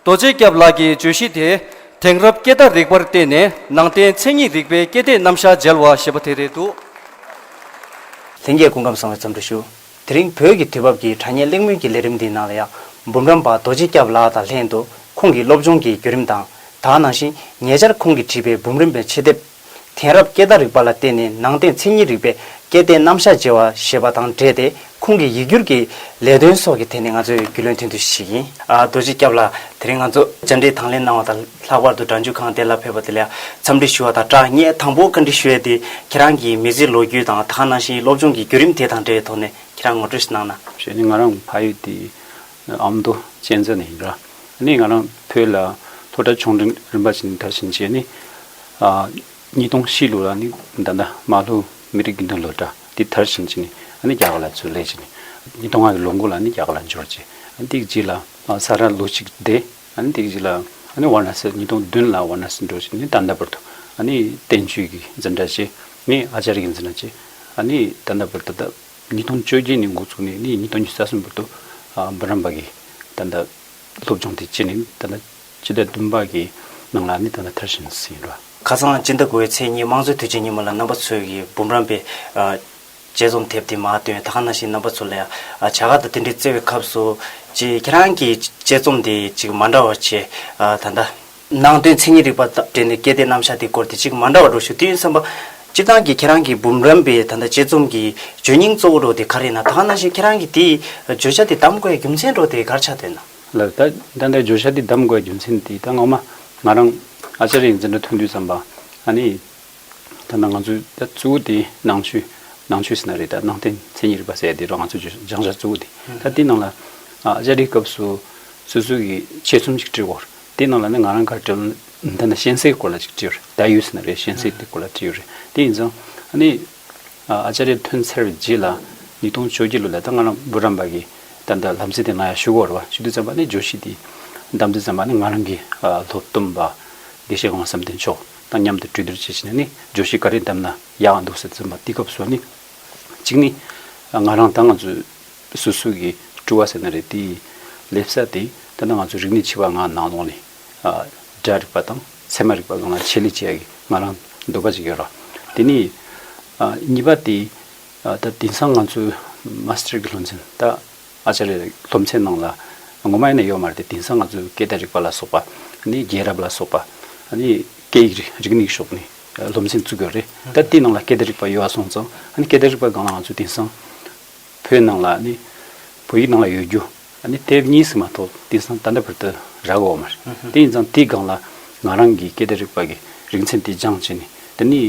རྡོ་རྗེ་སྐྱབས་ལགས་ཀྱིས་བརྗོད་གཞི་དེ། དེང་རབས་སྐད་བརྡ་རིག་པར་བརྟེན་ནས་ནང་བསྟན་མཚན་ཉིད་རིག་པའི་སྐད་བརྡའི་རྣམ་གཞག་མཇལ་བ་ཞེས་པ་དེ་རེད་འདུག། ལྷན་རྒྱས་སྐུ་ཁམས་བཟང་བའི་འཚམས་འདྲི་ཞུ། དེ་རིང་བོད་ཀྱི་དུས་བབ་ཀྱི་དྲ་བརྙན་གླེང་མོལ་གྱི་ལས་རིམ་འདིའི་ནང་ལ་ཡག་འབུམ་རམས་པ་རྡོ་རྗེ་སྐྱབས་ལགས་དང་ལྷན་དུ་ཁོང་གི་སློབ་སྦྱོང་གི་བརྒྱུད་རིམ་དང་དག་སྣང་ཞིང་ཉེ་ཆར་ཁོང་གིས་བྲིས་པའི་འབུམ་རམས་པའི་ཆེད་དེབ། དེང་རབས་སྐད་བརྡ་རིག་པ་ལ་བརྟེན་ནས་ནང་བསྟན་མཚན་ཉིད་རིག་པའི་སྐལ་ལྡན་རྣམ་གཞག་བརྗེ་བ་ཞེས་པ་དང་འབྲེལ་ཏེ་ཁོང་གི་ཡིག་སྒྱུར་གྱི་ལས་དོན་སོགས་ཀྱི་ཐད་ནས་ང་ཚོས་རྒྱུས་ལོན་ཐོན་དུས་ཤིག་ཡིན། རྡོ་རྗེ་སྐྱབས་ལགས་དེ་རིང་ང་ཚོ་བཅར་འདྲི་དང་ལེན་གནང་བ་དང་ལྷག་པར་དུ་དྲྭ་འཇུག་ཁང་དེ་ལ་ཕེབས་པ་དེ་ལ་འཚམས་འདྲི་ཞུ་བ་དང་སྦྲགས་ངས་དང་པོ་བཀའ་འདྲི་ཞུ་ཡ་དེ་ཁྱེད་རང་གིས་མི་ཚེའི་ལོ་རྒྱུས་དང་ད་ག་ནང་བཞིན་སློབ་སྦྱོང་གི་བརྒྱུད་རིམ་དེ་དང་འབྲེལ་ཐོག་ནས་ཁྱེད་རང་ངོ་སྤྲོད་ཞིག་གནང་ན། ཞེས་ནི་ང་རང་ཕ་ཡུལ་དེ་ཨ་མདོ་གཅན་ཚ་ནས་ཡིན་ར། ནས་ང་རང་བོད་ལ་ལྷོ་བྲག་ཆུང་འབྲིང་རིམ་པ་བཞིན་དར་ཞིང་རྒྱས་ནས། ཉིས་སྟོང་བཞི་ལོ་ལ་ནི་མདའ་མདའ་རྨ་ལྷོ་མི་རིགས་རྒྱུན་ལྡན་ལྷོ་བྲག་འདི་དར་ཞིང་རྒྱས་ནས་རྒྱ་གར་ལ་བཙོས་ལས་བྱས་ནས། ཉིས་སྟོང་ལྔ་བའི་ལོ་འགོ་ལ་ནི་རྒྱ་གར་ལ་འབྱོར་རྗེས་དེའི་རྗེས་ལ་ས་རཱ་ལོ་གཅིག་བསྡད། དེའི་རྗེས་ལ་བར་ན་སི་ཉིས་སྟོང་བདུན་ལ་བར་ན་སི་འགྲོ་བྱས་ནས་ད་ལྟ་བར་དུ་བསྟན་བཅོས་ཀྱི་འཛིན་གྲྭ་བྱས། ནས་ཨཱཅཱ་རི་ཡའི་འཛིན་གྲྭ་བྱས། ནས་ད་ལྟ་བར་དུ། ཉིས་སྟོང་བཅོ་བརྒྱད་ནས་འགོ་བཙུགས་ནས་ཉིས་སྟོང་བརྒྱད་རྩ་གསུམ་བར་དུ་འབུམ་རམས་པ་གི་ད་ལྟ་སློབ་སྦྱོང་དེ་བྱས་ནས་ད་ལྟ་སྤྱི་ཟླ་བདུན་པ་གི་ནང་ལ་ནི་ད་ལྟ་དར་ཞིང་བསིལ་ཡིན་པ། ཁ་སང་སྤྱི་ཟླ་དགུ་བའི་ཚེས་གཉིས་དམངས་གཙོའི་དུས་ཆེན་ཉིན་མོ་ལ་རྣམ་པ་ཚོས་ཀྱི་འབུམ་རམས་པའི་དཔྱད་རྩོམ་དེབ་དེ་མ་བཏོན་ད་ག་ན་ཞིག་རྣམ་པ་ཚོ་ལ་ཡང་བྱ་དགའ་དང་དེ་འབྲེལ་བརྩེ་བའི་ཁབ་བསུ། ཅེས་ཁྱེད་རང་གི་དཔྱད་རྩོམ་དེ་ཅིག་མ་འདྲ་བ་བྱས་ད་ལྟ། ནང་དོན་མཚན་ཉིད་རིག་པ་དང་སྦྲེལ་ནས་གལ་ཏེ་རྣམ་གཞག་དེའི་སྐོར་དེ་གཅིག་མ་འདྲ་བ་འགྲོ་ཞུ་དུས་ཡིན་བསམ་པ། སྤྱིར་བཏང་གི་ཁྱེད་རང་གིས་འབུམ་རམས་པའི་ད་ལྟ་དཔྱད་རྩོམ་གྱི་བརྗོད་སྙིང་གཙོ་བོ་འགྲོ་དེ་ག་རེད་ན་ད་ག་ནང་བཞིན་ཁྱེད་རང་གིས་དེའི་བརྗོད་བྱ་དེ་གདམ་དགོས་ཡ་རྒྱུ་མཚན་འགྲོ་དེ་གར་ཆགས་འདོད་ན། ལ་ད་ད་ལྟའི་བརྗོད་བྱ་དེ་གདམ་དགོས་ཡ་རྒྱུ་མཚན་དེ་ད་ངོ་མ་ང་རང་ཨཅཱརྱ་ཡིན་ཟེར་འདྲ་ཐོན་དུས་བསམ་པ། ཨ་ནི། ད་ནང་ང་ཚོས་ད་གཙོ་བོ་དེ་ནང་ཆོས་ནང་ཆོས་ཟེར་ན་རེད་ད་ནང་དོན་མཚན་ཉིད་རིག་པ་ཟེར་ཡ་དེ་རོ་ང་ཚོས་བརྗོད་སྦྱང་བྱ་གཙོ་བོ་དེ་ད་དེའི་ནང་ལ། ཨཅཱརྱའི་སྐབས་སུ་སོ་སོའི་གི་དཔྱད་རྩོམ་ཅིག་བྲིས་སྐོར་དེ་རྣམས་ལ་ནི་ང་རང་གར་བྲིས། འདི་ནི་གཤེན་སའི་སྐོར་ལ་ཅིག་བྲིས་ཡོད་རེད། ད་ཡོད་ཟེར་ན་རེད་གཤེན་སའི་དེ་སྐོར་ལ་བྲིས་ཡོད་རེད། དེ་ཡིན་ཙང། ནི། ཨཅཱ་རྱ་ཐུན་ཚར་བའི་རྗེས་ལ། ཉིས་སྟོང་བཅོ་བརྒྱད་ལོ་ལ་ད་སྔ་རང་བུ་རམ་པ་གི། ད་ལྟ་ལམ་ཚེ་དེ་ང་ཡང་ཤི་གོ་རེད་བ། ཤི་དུས་ཙམ་པ་ནི་ཇོ་ཤི་དེའི། འདམ་རྫི་ཙམ་པ་ནི་ང་རང་གི། ལྷོ་བསྟུམ་པ། དགེ་བཤེས་དབང་བསམ་གཏན་མཆོག། དང་མཉམ་དུ་གྲོས་བསྡུར་བྱེད་བྱེད་ནས་ནི། ཇོ་ཤི་ག་རེ་འདམ་ན་ཡག་འདུག་ཟེར་ཙམ་པ་དེའི་སྐབས་སུ་ནི། གཅིག་ནི། ང་རང་ད་ང་ཚོའི། སུ་སུ་གིས་སྤྲུལ་བ་ཟེར་ན་རེད་དེ། ལེབ་གསར་དེ། འདི་ན་ང་ཚོ་རིག་གནས་འཆི་བ་ང་ནང་ལོགས་ནས། སྒྲ་རིག་པ་དང་ཚད་མ་རིག་པ་ལོངས་ལ་ཆེད་ལས་བྱས་ཀྱི་ང་རང་འདོད་པ་ཅིག་ཡོད་རོགས། དེ་ནས། གཉིས་པ་དེ། ད་དེང་སང་ང་ཚོའི Master གྱི་སློབ་ཚན་ད Acharya གྱི་སློབ་ཚན་ནང་ལ། ངོ་མ་ཡིན་ན་ཡོད་མ་རེད་དེ་དེང་སང་ང་ཚོའི་སྐད་བརྡ་རིག་པ་ལ་སོགས་པ། ནི་རྒྱལ་རབས་ལ་སོགས་པ། ནི་སྐད་ཡིག་རིག་རིག་གནས་ཀྱི་ཕྱོགས་ནས་སློབ་ཚན་བཙུགས་ཡོད་རེད། ད་དེའི་ནང་ལ་སྐད་བརྡ་རིག་པ་ཡོད་ཨ་སོང་ཙང། ནི་སྐད་བརྡ་རིག་པ་སྒང་ལ་ང་ཚོ་དེང་སང། བོད་ནང་ལ་ནི་བོད་ཡིག་ནང་ལ་ཡོད་རྒྱུ་ནི་དེབ་གཉིས་སུ་མ་གཏོགས་དེང་སང་ད་ལྟ་བར་དུ་རག་འོག་མ་རེད། དེ་ཡིན་ཙང་དེའི་སྒང་ལ་ང་རང་གིས་སྐད་བརྡ་རིག་པ་གི་རིག་ཚན་དེ་སྦྱངས་བྱས་ནས་དེ་ནི་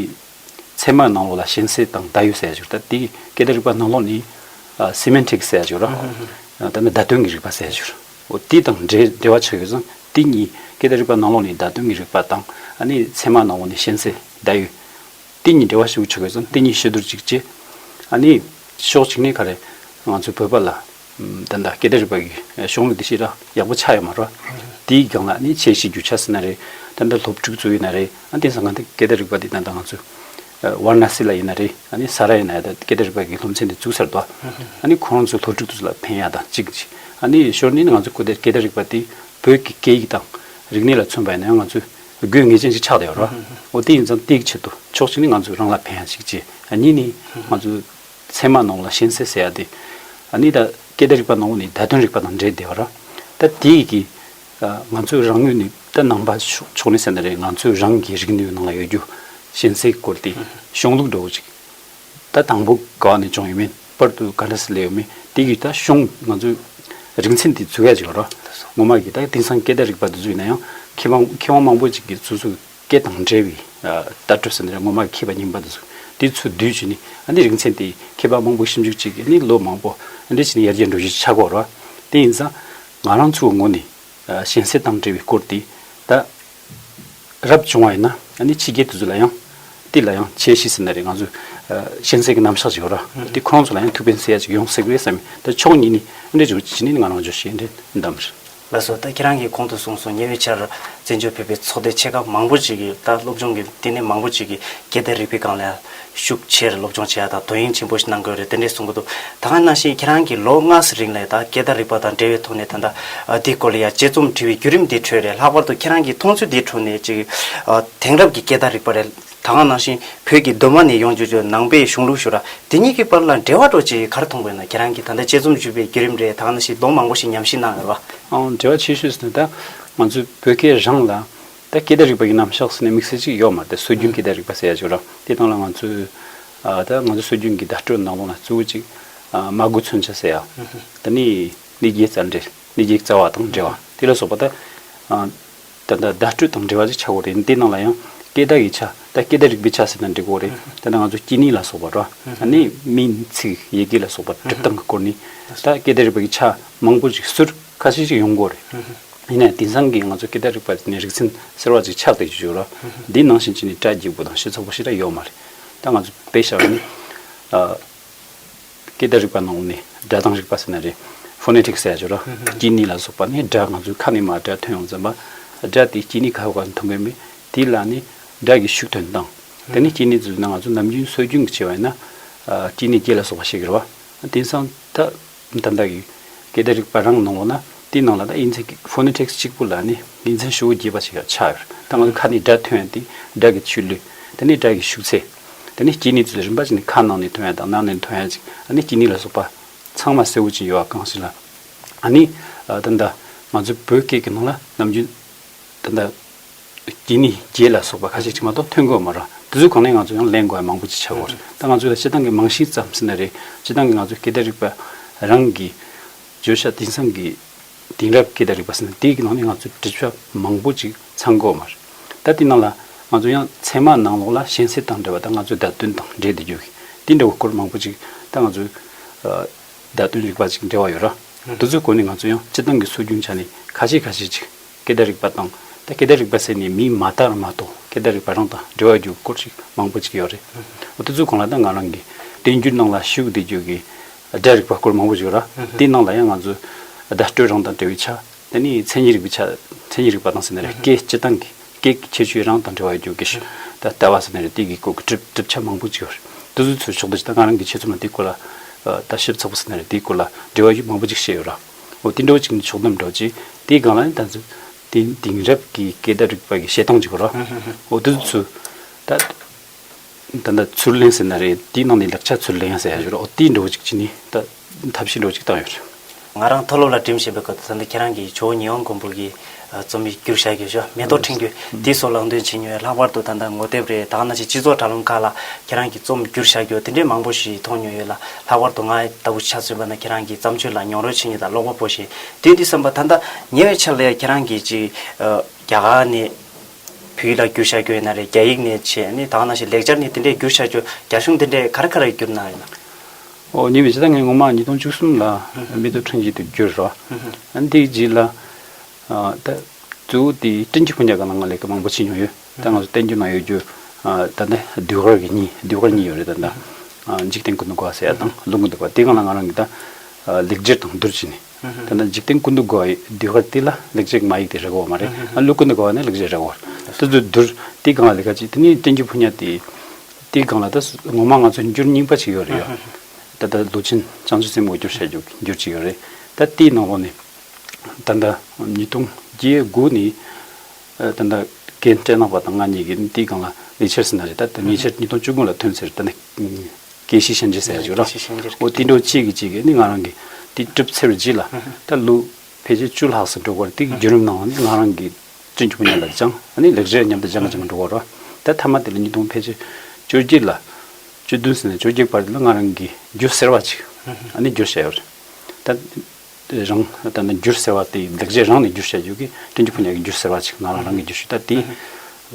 ཚད་མ་ནང་ལོགས་ལ་ཞེན་སེལ་དང་བརྡ་ཡོད་ཟེར་ཡ་འགྱུར་ད་དེའི་སྐད་བརྡ་རིག་པ་ནང་ལོགས་ནི། Semantic ཟེར་ཡ་འགྱུར་རོ། ད་ནི་བརྡ་དོན་གྱི་རིག་པ་ཟེར་ཡ་འགྱུར། འོ་དེ་དང་འབྲེལ་འབྲེལ་བ་ཆགས་ཡོད་ཙང་དེ་གཉིས་སྐད་བརྡ་རིག་པ་ནང་ལོགས་ནི་བརྡ་དོན་གྱི་རིག་པ་དང་ནི་ཚད་མ་ནང་ལོགས་ནི་ཞེན་སེལ་བརྡ་ཡོད། གཏན་ཉིད་འབྲེལ་བ་ཞིག་ཆོད་ཀྱི་སོང་གཏན་ཉིད་ཤེས་སྡུར་ཅིག་ཅེས། ཨཱ་ནི། ཕྱོགས་གཅིག་ནས་ག་རེ། ང་ཚོའི་བོད་པ་ལ། ད་ལྟ་སྐད་བརྡ་རིག་པ་གི་གཞུང་ལུགས་འདི་ཤེས་ར་ཡག་པོ་ཆགས་ཡོད་མ་རོགས། དེའི་སྒང་ལ་ཨཱ་ནི་ཆེས་གཞི་རྒྱུ་ཆགས་སྲིད་ན་རེད། ད་ལྟ་སློབ་ཕྲུག་ཚོ་ཡིན་ན་རེད། ཨཱ་ནི་དེང་སང་ག་འདི་སྐད་བརྡ་རིག་པ་འདི་ད་ལྟ་ང་ཚོའི། བར་ན་སི་ལ་ཡིན་ན་རེད། ཨཱ་ནི་ས་ར་ཡིན་ན་ཡ་ད་སྐད་བརྡ་རིག་པ་གི་སློབ་ཚན་འདི་བཙུགས་ཚར་འདུག་ཨཱ། ཨཱ་ནི་ཁོང་ཚོའི་སློབ་ཕྲུག་ཚོ་ལ་ཕན་ཡག་དང་ཅིག། ཨཱ་ནི་ཞོར་ནས་ནི་ང་ཚོའི་སྐད་བརྡ་རིག་པ་འདི་བོད་ཀྱི་སྐད་ཡིག་དང། རིག་གནས་ལ་མཚོན་པ་ཡིན་ན་ཡང་ང་ཚོའི། དགོས་ངེས་ཅན་ཞིག་ཆགས་བསྡད་ཡོད་རེད། འོ་དེ་ཡིན་ཙང་དེའི་ཆེད་དུ་ཕྱོགས་གཅིག་ནི་ང་ཚོས་རང་ལ་ཕན་ཡག་ཞིག་བྱས། གཉིས་ནི་ང་ཚོས་ཚད་མ་ནང་ལ་ཤན་སེལ་བྱས་ཡག་དེ། གཉིས་ད་སྐད་བརྡ་རིག་པ་ནང་བོ་ནི་བརྡ་དོན་རིག་པ་དང་འདྲེས་བསྡད་པ་རེད། ད་དེས་ཀྱི་ང་ཚོས་རང་ངོས་ནས་ད་ནང་པ་ཕྱོགས་ནས་བསལ་ན་རེད་ང་ཚོས་རང་གི་རིག་ནུས་ནང་ལ་ཡོད་རྒྱུ་ཤན་སེལ་སྐོར་དེ་གཞུང་ལུགས་འགྲོ་བོ་ཅིག་ད་དང་པོ་ག་ནས་བྱུང་ཡོད་མེད་པར་དུ་ག་འདྲ་སི་ལེ་ཡོད་མེད་དེ་གིས་ད་གཞུང་ང་ཚོས་རིག་ཚན་འདི་འཛུགས་ཡ་ཅིག་རོགས། ངོ་མ་གིས་ད་དེང་སང་སྐད་བརྡ་རིག་པ་འདི་འཛུགས་ཡིན་ན་ཡང་ཁེ་བང་ཁེ་དབང་མང་པོ་ཅིག་གིས་འཛུགས་འཛུགས་སྐད་དང་འདྲ་བའི་བརྡ་སྤྲོད་ས་འདི་ར་ངོ་མ་གིས་ཁེ་བ་རྙིང་པ་འདི་འཛུགས་དེའི་ཚུལ་བསྡུས་བྱས་ནས་ཨ་ནི་རིག་ཚན་དེའི་ཁེ་བང་མང་པོ་ཞིབ་འཇུག་བྱེད་ཀྱི་ནི་ལོ་མང་པོ་འདྲ་བྱས་ནས་ཡར་རྒྱས་འགྲོ་གཞི་ཆགས་དགོས་རོགས། དེ་ཡིན་ཙང་ང་རང་ཚོའི་ངོ་ནས་གཞན་སེལ་དང་འབྲེལ་བའི་སྐོར་དེ་ད། རབ་བྱུང་བ་ཡིན་ན་ནི་ཕྱི་རྒྱལ་དེ་ཚོ་ལ་ཡང་ཏི་ལ་ཡང་ཆེ་ཤི་ཟིན་ན་རེ་ང་ཚོས་གཤེན་སྲས་ཀྱི་རྣམ་གཞག་ཅིག་ཡོད་ར་ཏི་ཁོང་ཚོ་ལ་ཡང་ཐུགས་ཕན་སེ་ཡ་ཅིག་ཡོང་སྲིད་པས་བསམ་ཡོད་ད་ཕྱོགས་གཉིས་ནི་འདྲེ་འཇོ་ཅི་ནི་ང་རང་འཇོ་ཞེས་འདྲེ་འདམ་རེད། ལགས་སོ་ད་ཁྱེད་རང་གིས་གོང་དུ་གསུངས་སོང་ཉེ་བའི་ཆར་བཙན་བྱོལ་བོད་པའི་ཚོགས་སྡེ་ཆེ་ཁག་མང་པོ་ཅིག་གིས་ད་སློབ་སྦྱོང་གི་ལྟེ་གནས་མང་པོ་ཅིག་གིས་རྒྱལ་དར་རིག་པའི་སྒང་ལ་ཤུགས་ཆེར་སློབ་སྦྱོང་བྱེད་ཡག་དང་དོ་དབྱིངས་ཆེན་པོ་ཞིག་གནང་དགོས་རེད་དེ་འདྲས་གསུང་གི་འདུག་ད་སྔ་ནང་བཞིན་ཁྱེད་རང་གིས་ལོ་ལྔ་ཟི་རིང་ལས་དང་སྐད་བརྡ་རིག་པ་དང་འབྲེལ་བའི་ཐོག་ནས་ད་ལྟ་འདི་སྐོར་ལ་ཡང་དཔྱད་རྩོམ་བྲི་བའི་བརྒྱུད་རིམ་འདི་ཁྲོད་ནས་ལྷག་པར་དུ་ཁྱེད་རང་གིས་མཐོང་ཚུལ་འདིའི་ཁྲོད་ནས་ཅིག་དེང་རབས་ཀྱི་སྐད་བརྡ་རིག་པ་རེད་ད་སྔ་ནང་བཞིན་བོད་ཀྱི་གདོད་མ་ནས་ཡོང་བྱུང་བྱུང་ནང་པའི་གཞུང་ལུགས་ཞུ་ར་དེ་གཉིས་ཀྱི་བར་ལ་འབྲེལ་བ་འགྲོ་ཅིག་གར་མཐོང་དགོས་ན་ཁྱེད་རང་གིས་ད་ལྟ་དཔྱད་རྩོམ་བྲི་བའི་བརྒྱུད་རིམ་རེ་ད་སྔ་ནང་བཞིན་ལོ་མང་པོ་ཞིག་ཉམས་ཞིབ་གནང་ཡོད་རེད་བ། འབྲེལ་བ་ཆེ་ཤོས་སུ་ད་ང་ཚོའི་བོད་སྐད་རང་ལ་ད་སྐད་བརྡ་རིག་པ་གྱི་རྣམ་གཞག་ཟེར་ནས་དམིགས་བསལ་གཅིག་ཡོད་མ་རེད་སྲོལ་རྒྱུན་སྐད་བརྡ་རིག་པ་ཟེར་ཡ་ཆོད་རང་དེ་སྟངས་ལ་ང་ཚོས་ད་ང་ཚོ་སྲོལ་རྒྱུན་གྱི་བརྡ་སྤྲོད་ནང་དོན་ལ་གཙོ་བོ་གཅིག་མ་དགོས་མཚོན་ཆ་ཟེར་ཡ་ད་ནི་ནི་བརྒྱའི་རྩ་འགྲེལ་ནི་བརྒྱའི་རྩ་བ་དང་འབྲེལ་བ་དེ་ལ་སོགས་པ་ད་ད་ད་བརྡ་སྤྲོད་དང་འབྲེལ་བ་ཅིག་ཆགས་དགོས་རེད་དེ་སྟངས་ལ་ཡང་སྐད་བརྡ་གྱི་ཆ་ད་སྐད་བརྡ་རིག་པའི་ཆ་ཟེར་ན་འགྲིག་གོ་རེད་ད་ནི་ང་ཚོ་སྐྱིད་ནི་ལ་སོགས་པ་འགྲོ་ད་ནི་མིང་ཚིག་ཡི་གེ་ལ་སོགས་པ་སྒྲུབ་སྟངས་ཀྱི་སྐོར་ནི་ད་སྐད་བརྡ་རིག་པ་གྱི་ཆ་མང་པོ་ཅིག་ཟུར། ཁ་ཤས་ཤིག་ཡོང་དགོས་རེད། ཡིན་ནའི་དེང་སང་གི་ང་ཚོའི་སྐད་བརྡ་རིག་པ་འདི་ནི་རིག་ཚན་ཟེར་བ་ཅིག་ཆགས་བསྡད་ཀྱི་ཡོད་ར། འདིའི་ནང་བཞིན་གྱི་ནི་སྒྲ་སྒྱིག་པོ་དང་ཤེས་ཚོར་པོ་ཞིག་ལ་ཡོད་མ་རེད། ད་ང་ཚོས་བེད་བཞག་པ་ནི། སྐད་བརྡ་རིག་པ་ནང་ནས་སྒྲ་གདངས་རིག་པ་ཟེར་ན་རེད། Phonetics ཟེར་ཡ་ཆོད་ར། དཀྱིལ་ནི་ལ་སོགས་པ་ནི་སྒྲ་ང་ཚོའི་ཁ་ནས་མ་སྒྲ་ཐོན་ཡོང་ཙམ་པ། སྒྲ་དེའི་དཀྱིལ་ནི་ག་བ་ག་མཐོང་གི་མེད། དེ་ལ་ནི་སྒྲ་གི་ཤུགས་དོན་དང། དེ་ནི་དཀྱིལ་ནི་ཟེར་ན་ང་ཚོ་ནམ་རྒྱུན་སྲོལ་རྒྱུན་གྱི་བྱ་བ་ཡིན་ན། དཀྱིལ་ནི་སྒྱེད་ལ་སོགས་པ་ཞིག་རེད་བ། དེང་སང་ད། འདི་འདྲ་ཡོད། གལ་ཏེ་རིག་པ་རང་ནང་བ་ན་དེའི་ནང་ལ་ད་ཨིན་ཚིག་གི Phonetics གཅིག་པུ་ལ་ནི་དགེ་མཚན་ཧྲིལ་བོ་རྒྱས་པ་ཞིག་ཡང་ཆགས་ཡོད། ད་ང་ཚོས་ཁ་ནས་སྒྲ་ཐོན་ཏེ་སྒྲ་གི་ཆུ་ལུད། དེ་ནས་སྒྲ་གི་ཤུགས་ཚད། དེ་ནས་སྐྱིད་ནི་ཚུལ་རིམ་པ་ཅིག་ནི་ཁ་ནང་ནས་ཐོན་ཡ་དང་ནང་ནས་ཐོན་ཡ་ཅིག་ཨ་ནི་སྐྱིད་ནི་ལ་སོགས་པ། ཚང་མ་གསལ་བོ་ཅིག་ཡོད་གང་ཞིག་ལ། ཨ་ནི། ད་ནི། ང་ཚོའི་བོད་སྐད་ཀྱི་ནང་ལ་ནམ་རྒྱུན། ད་ནི། འདི་ནི་རྒྱས་ལ་སོགས་པ་ཁ་ཅིག་ཅིག་མ་གཏོགས་ཐོན་དགོས་མ་རུང། དེ་ཚོའི་གོང་ནས་ང་ཚོ་ཡང་ལན་དགོས་ཡ་མང་པོ་ཅིག་བྱ་དགོས་རེད། ད་ང་ཚོས་ལ་སྤྱི་བཏང་གི་རྨང་གཞི་བརྩམས་ཟིན་ན་རེད། སྤྱི་བཏང་གི་ང་ཚོའི་སྐད་བརྡ་རིག་པ། རང་གི་བརྗོད་བྱ་དེང་སང་གི་དེང་རབས་སྐད་བརྡ་རིག་པ་ཟིན་ན་དེ་ཡི་ནང་ནས་ང་ཚོས་འབྲི་ཆུ་མང་པོ་ཅིག་ཚང་དགོས་མ་རེད། ད་དེ་ནང་ལ་ང་ཚོ་ཡང་ཚད་མ་ནང་ལོགས་ལ་གཞན་སེལ་དང་འབྲེལ་བ་ད་ང་ཚོའི་བརྡ་སྟོན་དང་འབྲེལ་འདི་རྒྱུ་གི་དེ་འདྲ་བོ་སྐོར་མང་པོ་ཅིག་ད་ང་ཚོའི། བརྡ་སྟོན་རིག་པ་ཅིག་འབྲེལ་བ་ཡོད་ར། དེ་ཚོའི་སྐོར་ནས་ང་ཚོ་ཡང་སྤྱི་བཏང་གི་སྲོལ་རྒྱུན་ཆ་ནས་ཁ་ཤས་ཁ་ཤས་ཅིག་སྐད་བརྡ་རིག་པ་དང། ད་སྐད་བརྡ་རིག་པ་ཟེར་ནས་མིས་མ་བཏགས་མ་གཏོགས་སྐད་བརྡ་རིག་པ་རང་དང་འབྲེལ་བ་རྒྱུ་སྐོར་ཞིག་མང་པོ་ཅིག་ཡོད་རེད། དེ་ཚོའི་གོང་ལ་ད་ང་རང་གིས་བསྟན་རྒྱུན་ནང་ལ་ཞུགས་བསྡད་རྒྱུ་གི་སྒྲ་རིག་པ་སྐོར་མང་པོ་ཞིག་ཡོད་ར། དེའི་ནང་ལ་ཡང་ང་ཚོས་བརྡ་སྤྲོད་རང་དང་འབྲེལ་བའི་ཆ། དེ་ནི་མཚན་ཉིད་རིག་པའི་ཆ། མཚན་ཉིད་རིག་པ་དང་ཟེར་ནི་རེད། སྐད་སྤྱི་སྟངས་ཀྱི་སྐད་ཀྱི་ཁྱད་ཆོས་རང་དང་འབྲེལ་བ་ཡོད་རྒྱུ་གི་ཞིག། ད་ལྟ་བ་ཟེར་ནི་རེད་དེ་གི་སྐོར་གྱི་གྲུབ་གྲུབ་ཆ་མང་པོ་ཅིག་ཡོད་རེད། དེ་ཚོའི་ཚུལ་ཕྱོགས་བསྡུ་བྱས་ད་ང་རང་གིས་ཆེད་རྩོམ་ལ་དེའི་སྐོར་ལ། ད་ཞིབ་ཚགས་པོ་ཟེར་ནི་རེད་དེའི་སྐོར་ལ་འབྲེལ་བ་ཡུལ་མང་པོ་ཅིག་བཤད་ཡོད་ར། འོ་དེ་འགྲོ་ཅིག་ནི་ཕྱོགས་བསྡོམས་འགྲོ་ཅིག་དེའི་སྒང་ལ་ནི་ད་གཟོད། དེ་དེང་རབས་ཀྱི་སྐད་བརྡ་རིག་པ་ཀྱི་བཤད་སྟངས་ཅིག་གོ་རོགས། འོ་དེ་ཚུ། ད། ད་ནི་ཚུར་ལེན་ཟེར་ན་རེ་དེའི་ནང་ནས་ལེགས་ཆ་ཚུར་ལེན་ཟེར་ཡག་ཡོད་རོགས་འོ་དེའི་འགྲོ་ཅིག་ཅིག་ནི་ད། ཐབས་ཤེས་འགྲོ་ཅིག་བཏང་ཡོད་རེད། ང་རང་མཐོ་སློབ་ལ་འགྲིམ་བཞིན་པའི་སྐབས་སུ་ད་ནི་ཁྱེད་རང་གིས་ཇོ་བོ་ཉི་ཧོང་མགོན་པོ་གི། རྩོམ་ཡིག་བསྒྱུར་བྱ་དགོས་ཞོ་མེ་ཏོག་འཕྲེང་རྒྱུ་དེ་སོགས་ལག་འདོན་བྱེད་མྱོས་ལྷག་པར་དུ་ད་ལྟ་ངོ་དེབ་རེ་དང་ན་ཆེ་སྤྱི་ཚོགས་དྲ་ལུང་ཁག་ལ་ཁྱེད་རང་གི་རྩོམ་བསྒྱུར་བྱ་རྒྱུ་དེ་འདྲའི་མང་པོ་ཞིག་མཐོང་མྱོས་ཡོད་ལ་ལྷག་པར་དུ་ང་ལྟ་བུ་ཆ་མཚོན་པ་ན་ཁྱེད་རང་གི་བརྩམས་ཆོས་ལ་མྱོང་རོལ་བྱེད་མྱོས་དང་ཀློག་པ་པོ་ཞིག་དུས་འདི་བསམ་པ་ད་ལྟ་ཉེ་བའི་ཆར་ལ་ཡང་ཁྱེད་རང་གིས་ཅིག་རྒྱ་གར་ནས་བོད་ཡིག་ལ་བསྒྱུར་བྱ་རྒྱུ་ཡོད་ན་རེད་རྒྱ་ཡིག་ནས་བྱས་ནས་དང་ན་ཆེ་ལེགས་སྦྱར་ནས་དེ་འདྲའི་བསྒྱུར་བྱ་རྒྱུ་རྒྱ་གཞུང་དེ་འདྲས་ག་རེ་ག་རེ་བསྒྱུར་གནང་ཡོད་ན། ཨོ་ཉེ་བའི་ཕྱི་ཟླ་ལྔའི་སྔོན་མ་ཉིས་སྟོང་བཅུ་གསུམ་ལ་མེ་ཏོག་འཕྲེང་བཞི་དེ་བསྒྱུར་རོ། འདིའི་རྗེས་ལ། ད་གཙོ་བོ་དེ་བཀྲིན་ཆེ་ཁོང་ཅག་ག་ལ་ང་ལས་ཀ་མང་པོ་བྱེད་མྱོང་ཡོད་ད་ང་ཚོ་བསྟན་རྒྱུ་ན་ཡོད་རྒྱུ་ད་ལྟ་ཟློས་གར་གྱི་གཉིས་ཟློས་གར་གཉིས་ཡོད་རེད་ད་ལྟ་འཇིག་རྟེན་ཀུན་ཏུ་དགའ་བ་ཟེར་ཡག་དང་ལུང་ཀུན་ཏུ་དགའ་དེ་གང་ལ་ང་རང་གིས་ད་ལེགས་སྒྱུར་དང་བསྡུར་བྱས་ནས་ད་ལྟ་འཇིག་རྟེན་ཀུན་ཏུ་དགའ་བའི་ཟློས་གར་དེ་ལ་ལེགས་སྒྱུར་གྱི་མ་ཡིག་དེ་རག་གོ་བ་མ་རེད་ལུགས་ཀུན་ཏུ་དགའ་བ་ནི་ལེགས་སྒྱུར་རག་གོ་ད་གཟོད་བསྡུར་དེ་གང་ལ་ལེགས་ཀ་བྱས་དེ་ནི་བསྟན་རྒྱུ་ཕོ་ཉ་དེ་དེ་གང་ལ་ད་ངོ་མ་ང་ཚོ་འགྱུར་རྙིང་པ་ཅིག་ཡོད་རེད་ཡ་ད་ལྟ་ལུས་ཅན་སྤྱང་ཆུ་སེམས་འོ་སྒྱུར་བྱ་རྒྱུ་འགྱུར་ཅིག་ཡོད་རེད་ད་དེའི་ནང་ལོགས་ནས་ད་ལྟ་ཉིས་སྟོང་བརྒྱད་དགུ་ནི་ད་ལྟ་རྒན་སྤྲེལ་ནག་པ་དང་ང་གཉིས་ཀྱི་དེའི་སྒང་ལ་ཉེ་ཆར་ཟེར་ན་རེད་ད་ལྟ་ཉེ་ཆར་ཉིས་སྟོང་བཅུ་དགུ་ལ་ཐོན་ཟེར་ད་ནི་ཀེ་ཤི་ཤན་ཇེ་ཟེར་ཡ་བྱུགས་ར་འོ་དེ་འདྲ་བོ་གཅིག་གིས་གཅིག་གིས་ནི་ང་རང་གི་དེ་གྲུབ་ཚེ་རུ་བགྱིས་ལ་ད་ལོ་ཕལ་ཆེར་བཅུ་ལྷག་སུ་འགྲོ་དགོས་རེད་དེ་གི་བརྒྱུད་རིམ་གནང་བ་ནི་ང་རང་གི་བཙུན་གྱི་བུ་ཉལ་ལ་སྦྱངས་ཨ་ནི་ལེགས་བྱས་མཉམ་དུ་སྦྱངས་སྦྱངས་འགྲོ་དགོས་ར་ད་མཐའ་མ་དེ་ལ་ཉིས་སྟོང་ཕལ་ཆེར་བཅོ་བརྒྱད་ལ་བཅོ་བདུན་ཟེར་ན་བཅོ་བརྒྱད་བར་དེ་ལ་ང་རང་གི་རྒྱུ་ཟེར་བ་གཅིག་ཨ་ནི་རྒྱུ་བྱས་ཡོད་རེད་ད། དེ་རང་ད་ནི་འགྱུར་ཟེར་བ་དེ་འདེགས་བྱེད་རང་ནས་འགྱུར་བྱ་ཡོད་ཀི་སྤྲིན་གྱི་ཕོ་ཉར་གྱི་འགྱུར་ཟེར་བ་ཅིག་ང་རང་རང་གིས་འགྱུར་ཞུས་ད་དེ་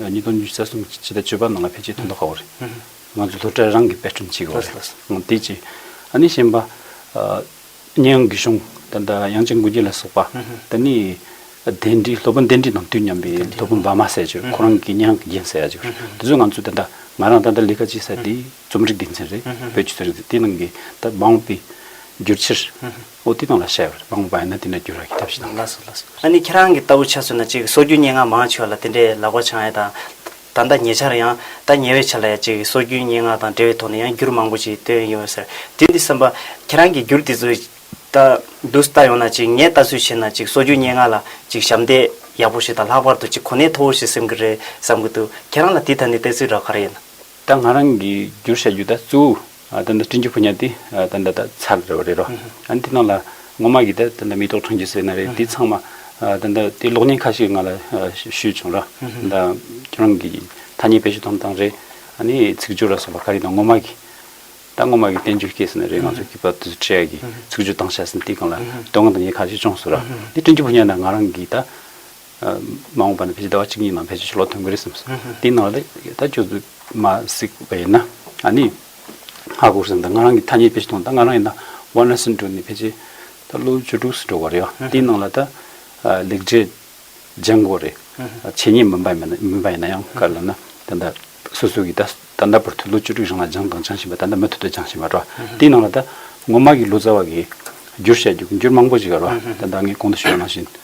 ཉིས་སྟོང་བཅུ་རྩ་གསུམ་གྱི་སྤྱི་ཟླ་བཅུ་པ་ནང་ལ་ཕལ་ཆེར་དོན་དུ་དགའ་བོ་རེད། ང་ཚོ་སློབ་གྲྭའི་རང་གི་དཔེ་སྐྲུན་བྱེད་དགོས་རེད་དེ་གཅིག་ཨ་ནི་གཞན་པ། གཉན་ཡང་རྒུད་གཤོང་ད་ལྟ་དབྱངས་ཅན་དགུན་རྒྱལ་ལ་སོགས་པ་ད་ནི་གདན་ཁྲི་སློབ་དཔོན་གདན་ཁྲི་དང་དུས་མཉམ་པའི་སློབ་དཔོན་འབར་མ་ཟེར་ཡ་ཆོད་ཁོ་རང་གིས་གཉན་ཡང་གི་རྒྱན་ཟེར་ཡ་ཆོད་དེ་ཚོས་ང་ཚོ་ད་ལྟ་ང་རང་ད་ལྟ་ལས་ཀ་བྱེད་ས་དེ་རྩོམ་རིག་དགེ་མཚན་རེད། བོད་ཀྱི་རྩོམ་རིག་དེ་ནང་གི་ད་མང་བོ་པའི། བསྒྱུར་ཕྱིར། ཨོ་དེ་དང་ལ་བཤད་པར་མང་བོ་པ་ཡིན་ན་དེ་ནས་བསྒྱུར་བར་གྱི་ཐབས་ཤེས་དང། ལགས་སོ་ལགས་སོ། ཨ་ནི་ཁྱེད་རང་གི་ལྟ་བུ་ཆ་ཚུད་ན་ཅིག་སྲོལ་རྒྱུན་སྙན་ངག་མང་ཆེ་བ་ལ་དེ་འདྲའི་ལག་པ་འཆང་ཡས་དང། ད་ལྟ་ཉེ་ཆར་ཡང། ད་ཉེ་བའི་ཆ་ལ་ཡང་ཅིག་སྲོལ་རྒྱུན་སྙན་ངག་དང་འབྲེལ་བའི་ཐོག་ནས་ཡང་བསྒྱུར་མང་བོ་ཅིག་བཏོན་ཡོད་ཟེར། དེ་འདི་བསམ་པ། ཁྱེད་རང་གིས་བསྒྱུར་དེ་ཚོ། ད། འདུག་ལྟ་ཡོང་ན་ཅིག་ངས་ལྟ་ཚུལ་བྱས་ན་ཅིག་སྲོལ་རྒྱུན་སྙན་ངག་ལ་ཅིག་ཞབས་འདེགས་ཡག་པོ་ཞིག་དང་ལྷག་པར་དུ་ཅིག་གོ་གནས་མཐོ་བོ་ཞིག་སེམས་ཀྱི་རེད་བསམ་གྱི་འདུག་ཁྱེད་རང་ལ་དེ་ད་ནི་བལྟས་ཚུལ་རག་ག་རེ་ཡིན། ད་ང་རང་གིས་བསྒྱུར་བྱ་རྒྱུ་ད་གཙོ་བོ་ད་བཀྲིན་ཆེ་ཕོ་ཉ་དེ་ད་འདྲ་ད་ཚར་རེད་བ་རེད་རོ། ཨ་ནི་དེ་ནང་ལ་ངོ་མ་གིས་ད་ད་མེ་ཏོག་འཕྲང་རྒྱུ་ཟེར་ན་རེད་དེ་ཚང་མ་ད་ད་དེ་གློག་བརྙན་ཁ་ཤིག་ང་ལ་ཞུས་བྱུང་རོ། ད་ཁྱོད་རང་གིས་ཐ་སྙད་དཔེ་ཞིག་ཐོམ་དང་རེད་ཨ་ནི་ཚིག་སྦྱོར་ལ་སོགས་པ་ག་རེ་དང་ངོ་མ་གིས་ད་ངོ་མ་གིས་བསྟན་བཅོས་སྐྱེས་ཟེར་ན་རེད་ང་ཚོ་གིས་བབ་དུས་སུ་ཁྲེ་ཡ་གིས་ཚིག་སྦྱོར་བཏང་བྱ་ཟིན་དེ་གང་ལ་དོན་ངོ་ཐ་སྙད་ཁ་ཤིག་བྱུང་སོང་རོ། དེ་བཀྲིན་ཆེ་ཕོ་ཉ་ན་ང་རང་གིས་ད། མ་འོངས་པ་ནི་ཕལ་ཆེར་ཟླ་བ་གཅིག་གཉིས་ནང་ཕལ་ཆེར་ཆུ་ལོག་ཐོན་གྱི་རེད་བསམ་སོང། དེའི་ནང་ལ་ད་ཁྱོད་ཚོས་མ་གཟིགས་པ་ཡིན་ན་ཨ་ནི། ཧ་གོ་བསམ་ད་ང་རང་གི་ཐ་སྙད་དཔེ་ཞིག་གཏོང་ད་ང་རང་ཡིན་ན་ཝར་ན་སིན་འགྲོ་ནས་ཕལ་ཆེར་ད་ལོ་བཅུ་དྲུག་སུ་འགྲོ་ག་རེད་ཨ་དེའི་ནང་ལ་ད། ལེགས་གྲས་ལྗང་གོ་རེད། བྱས་ཉེས་མིན་པ་མིན་ན་མིན་པ་ཡིན་ན་ཡང་ག་རེ་ལབ་ན་ད་ལྟ་སོ་སོ་གི་ད་ད་ལྟ་བར་དུ་ལོ་བཅུ་དྲུག་རིང་ལ་སྦྱངས་དང་སྦྱང་བཞིན་པ་ད་ལྟ་མུ་མཐུད་དུ་སྦྱངས་བཞིན་པ་འགྲོ་དེའི་ནང་ལ་ད་ངོ་མ་གི་ལོ་ཙཱ་བ་གིས་བསྒྱུར་བཤད་རྒྱུ་བསྒྱུར་མང་པོ་བྱེད་ག་རེ་བ་ད་ད་ངས་གོང་དུ་ཞུས་པ་ནང་བཞིན།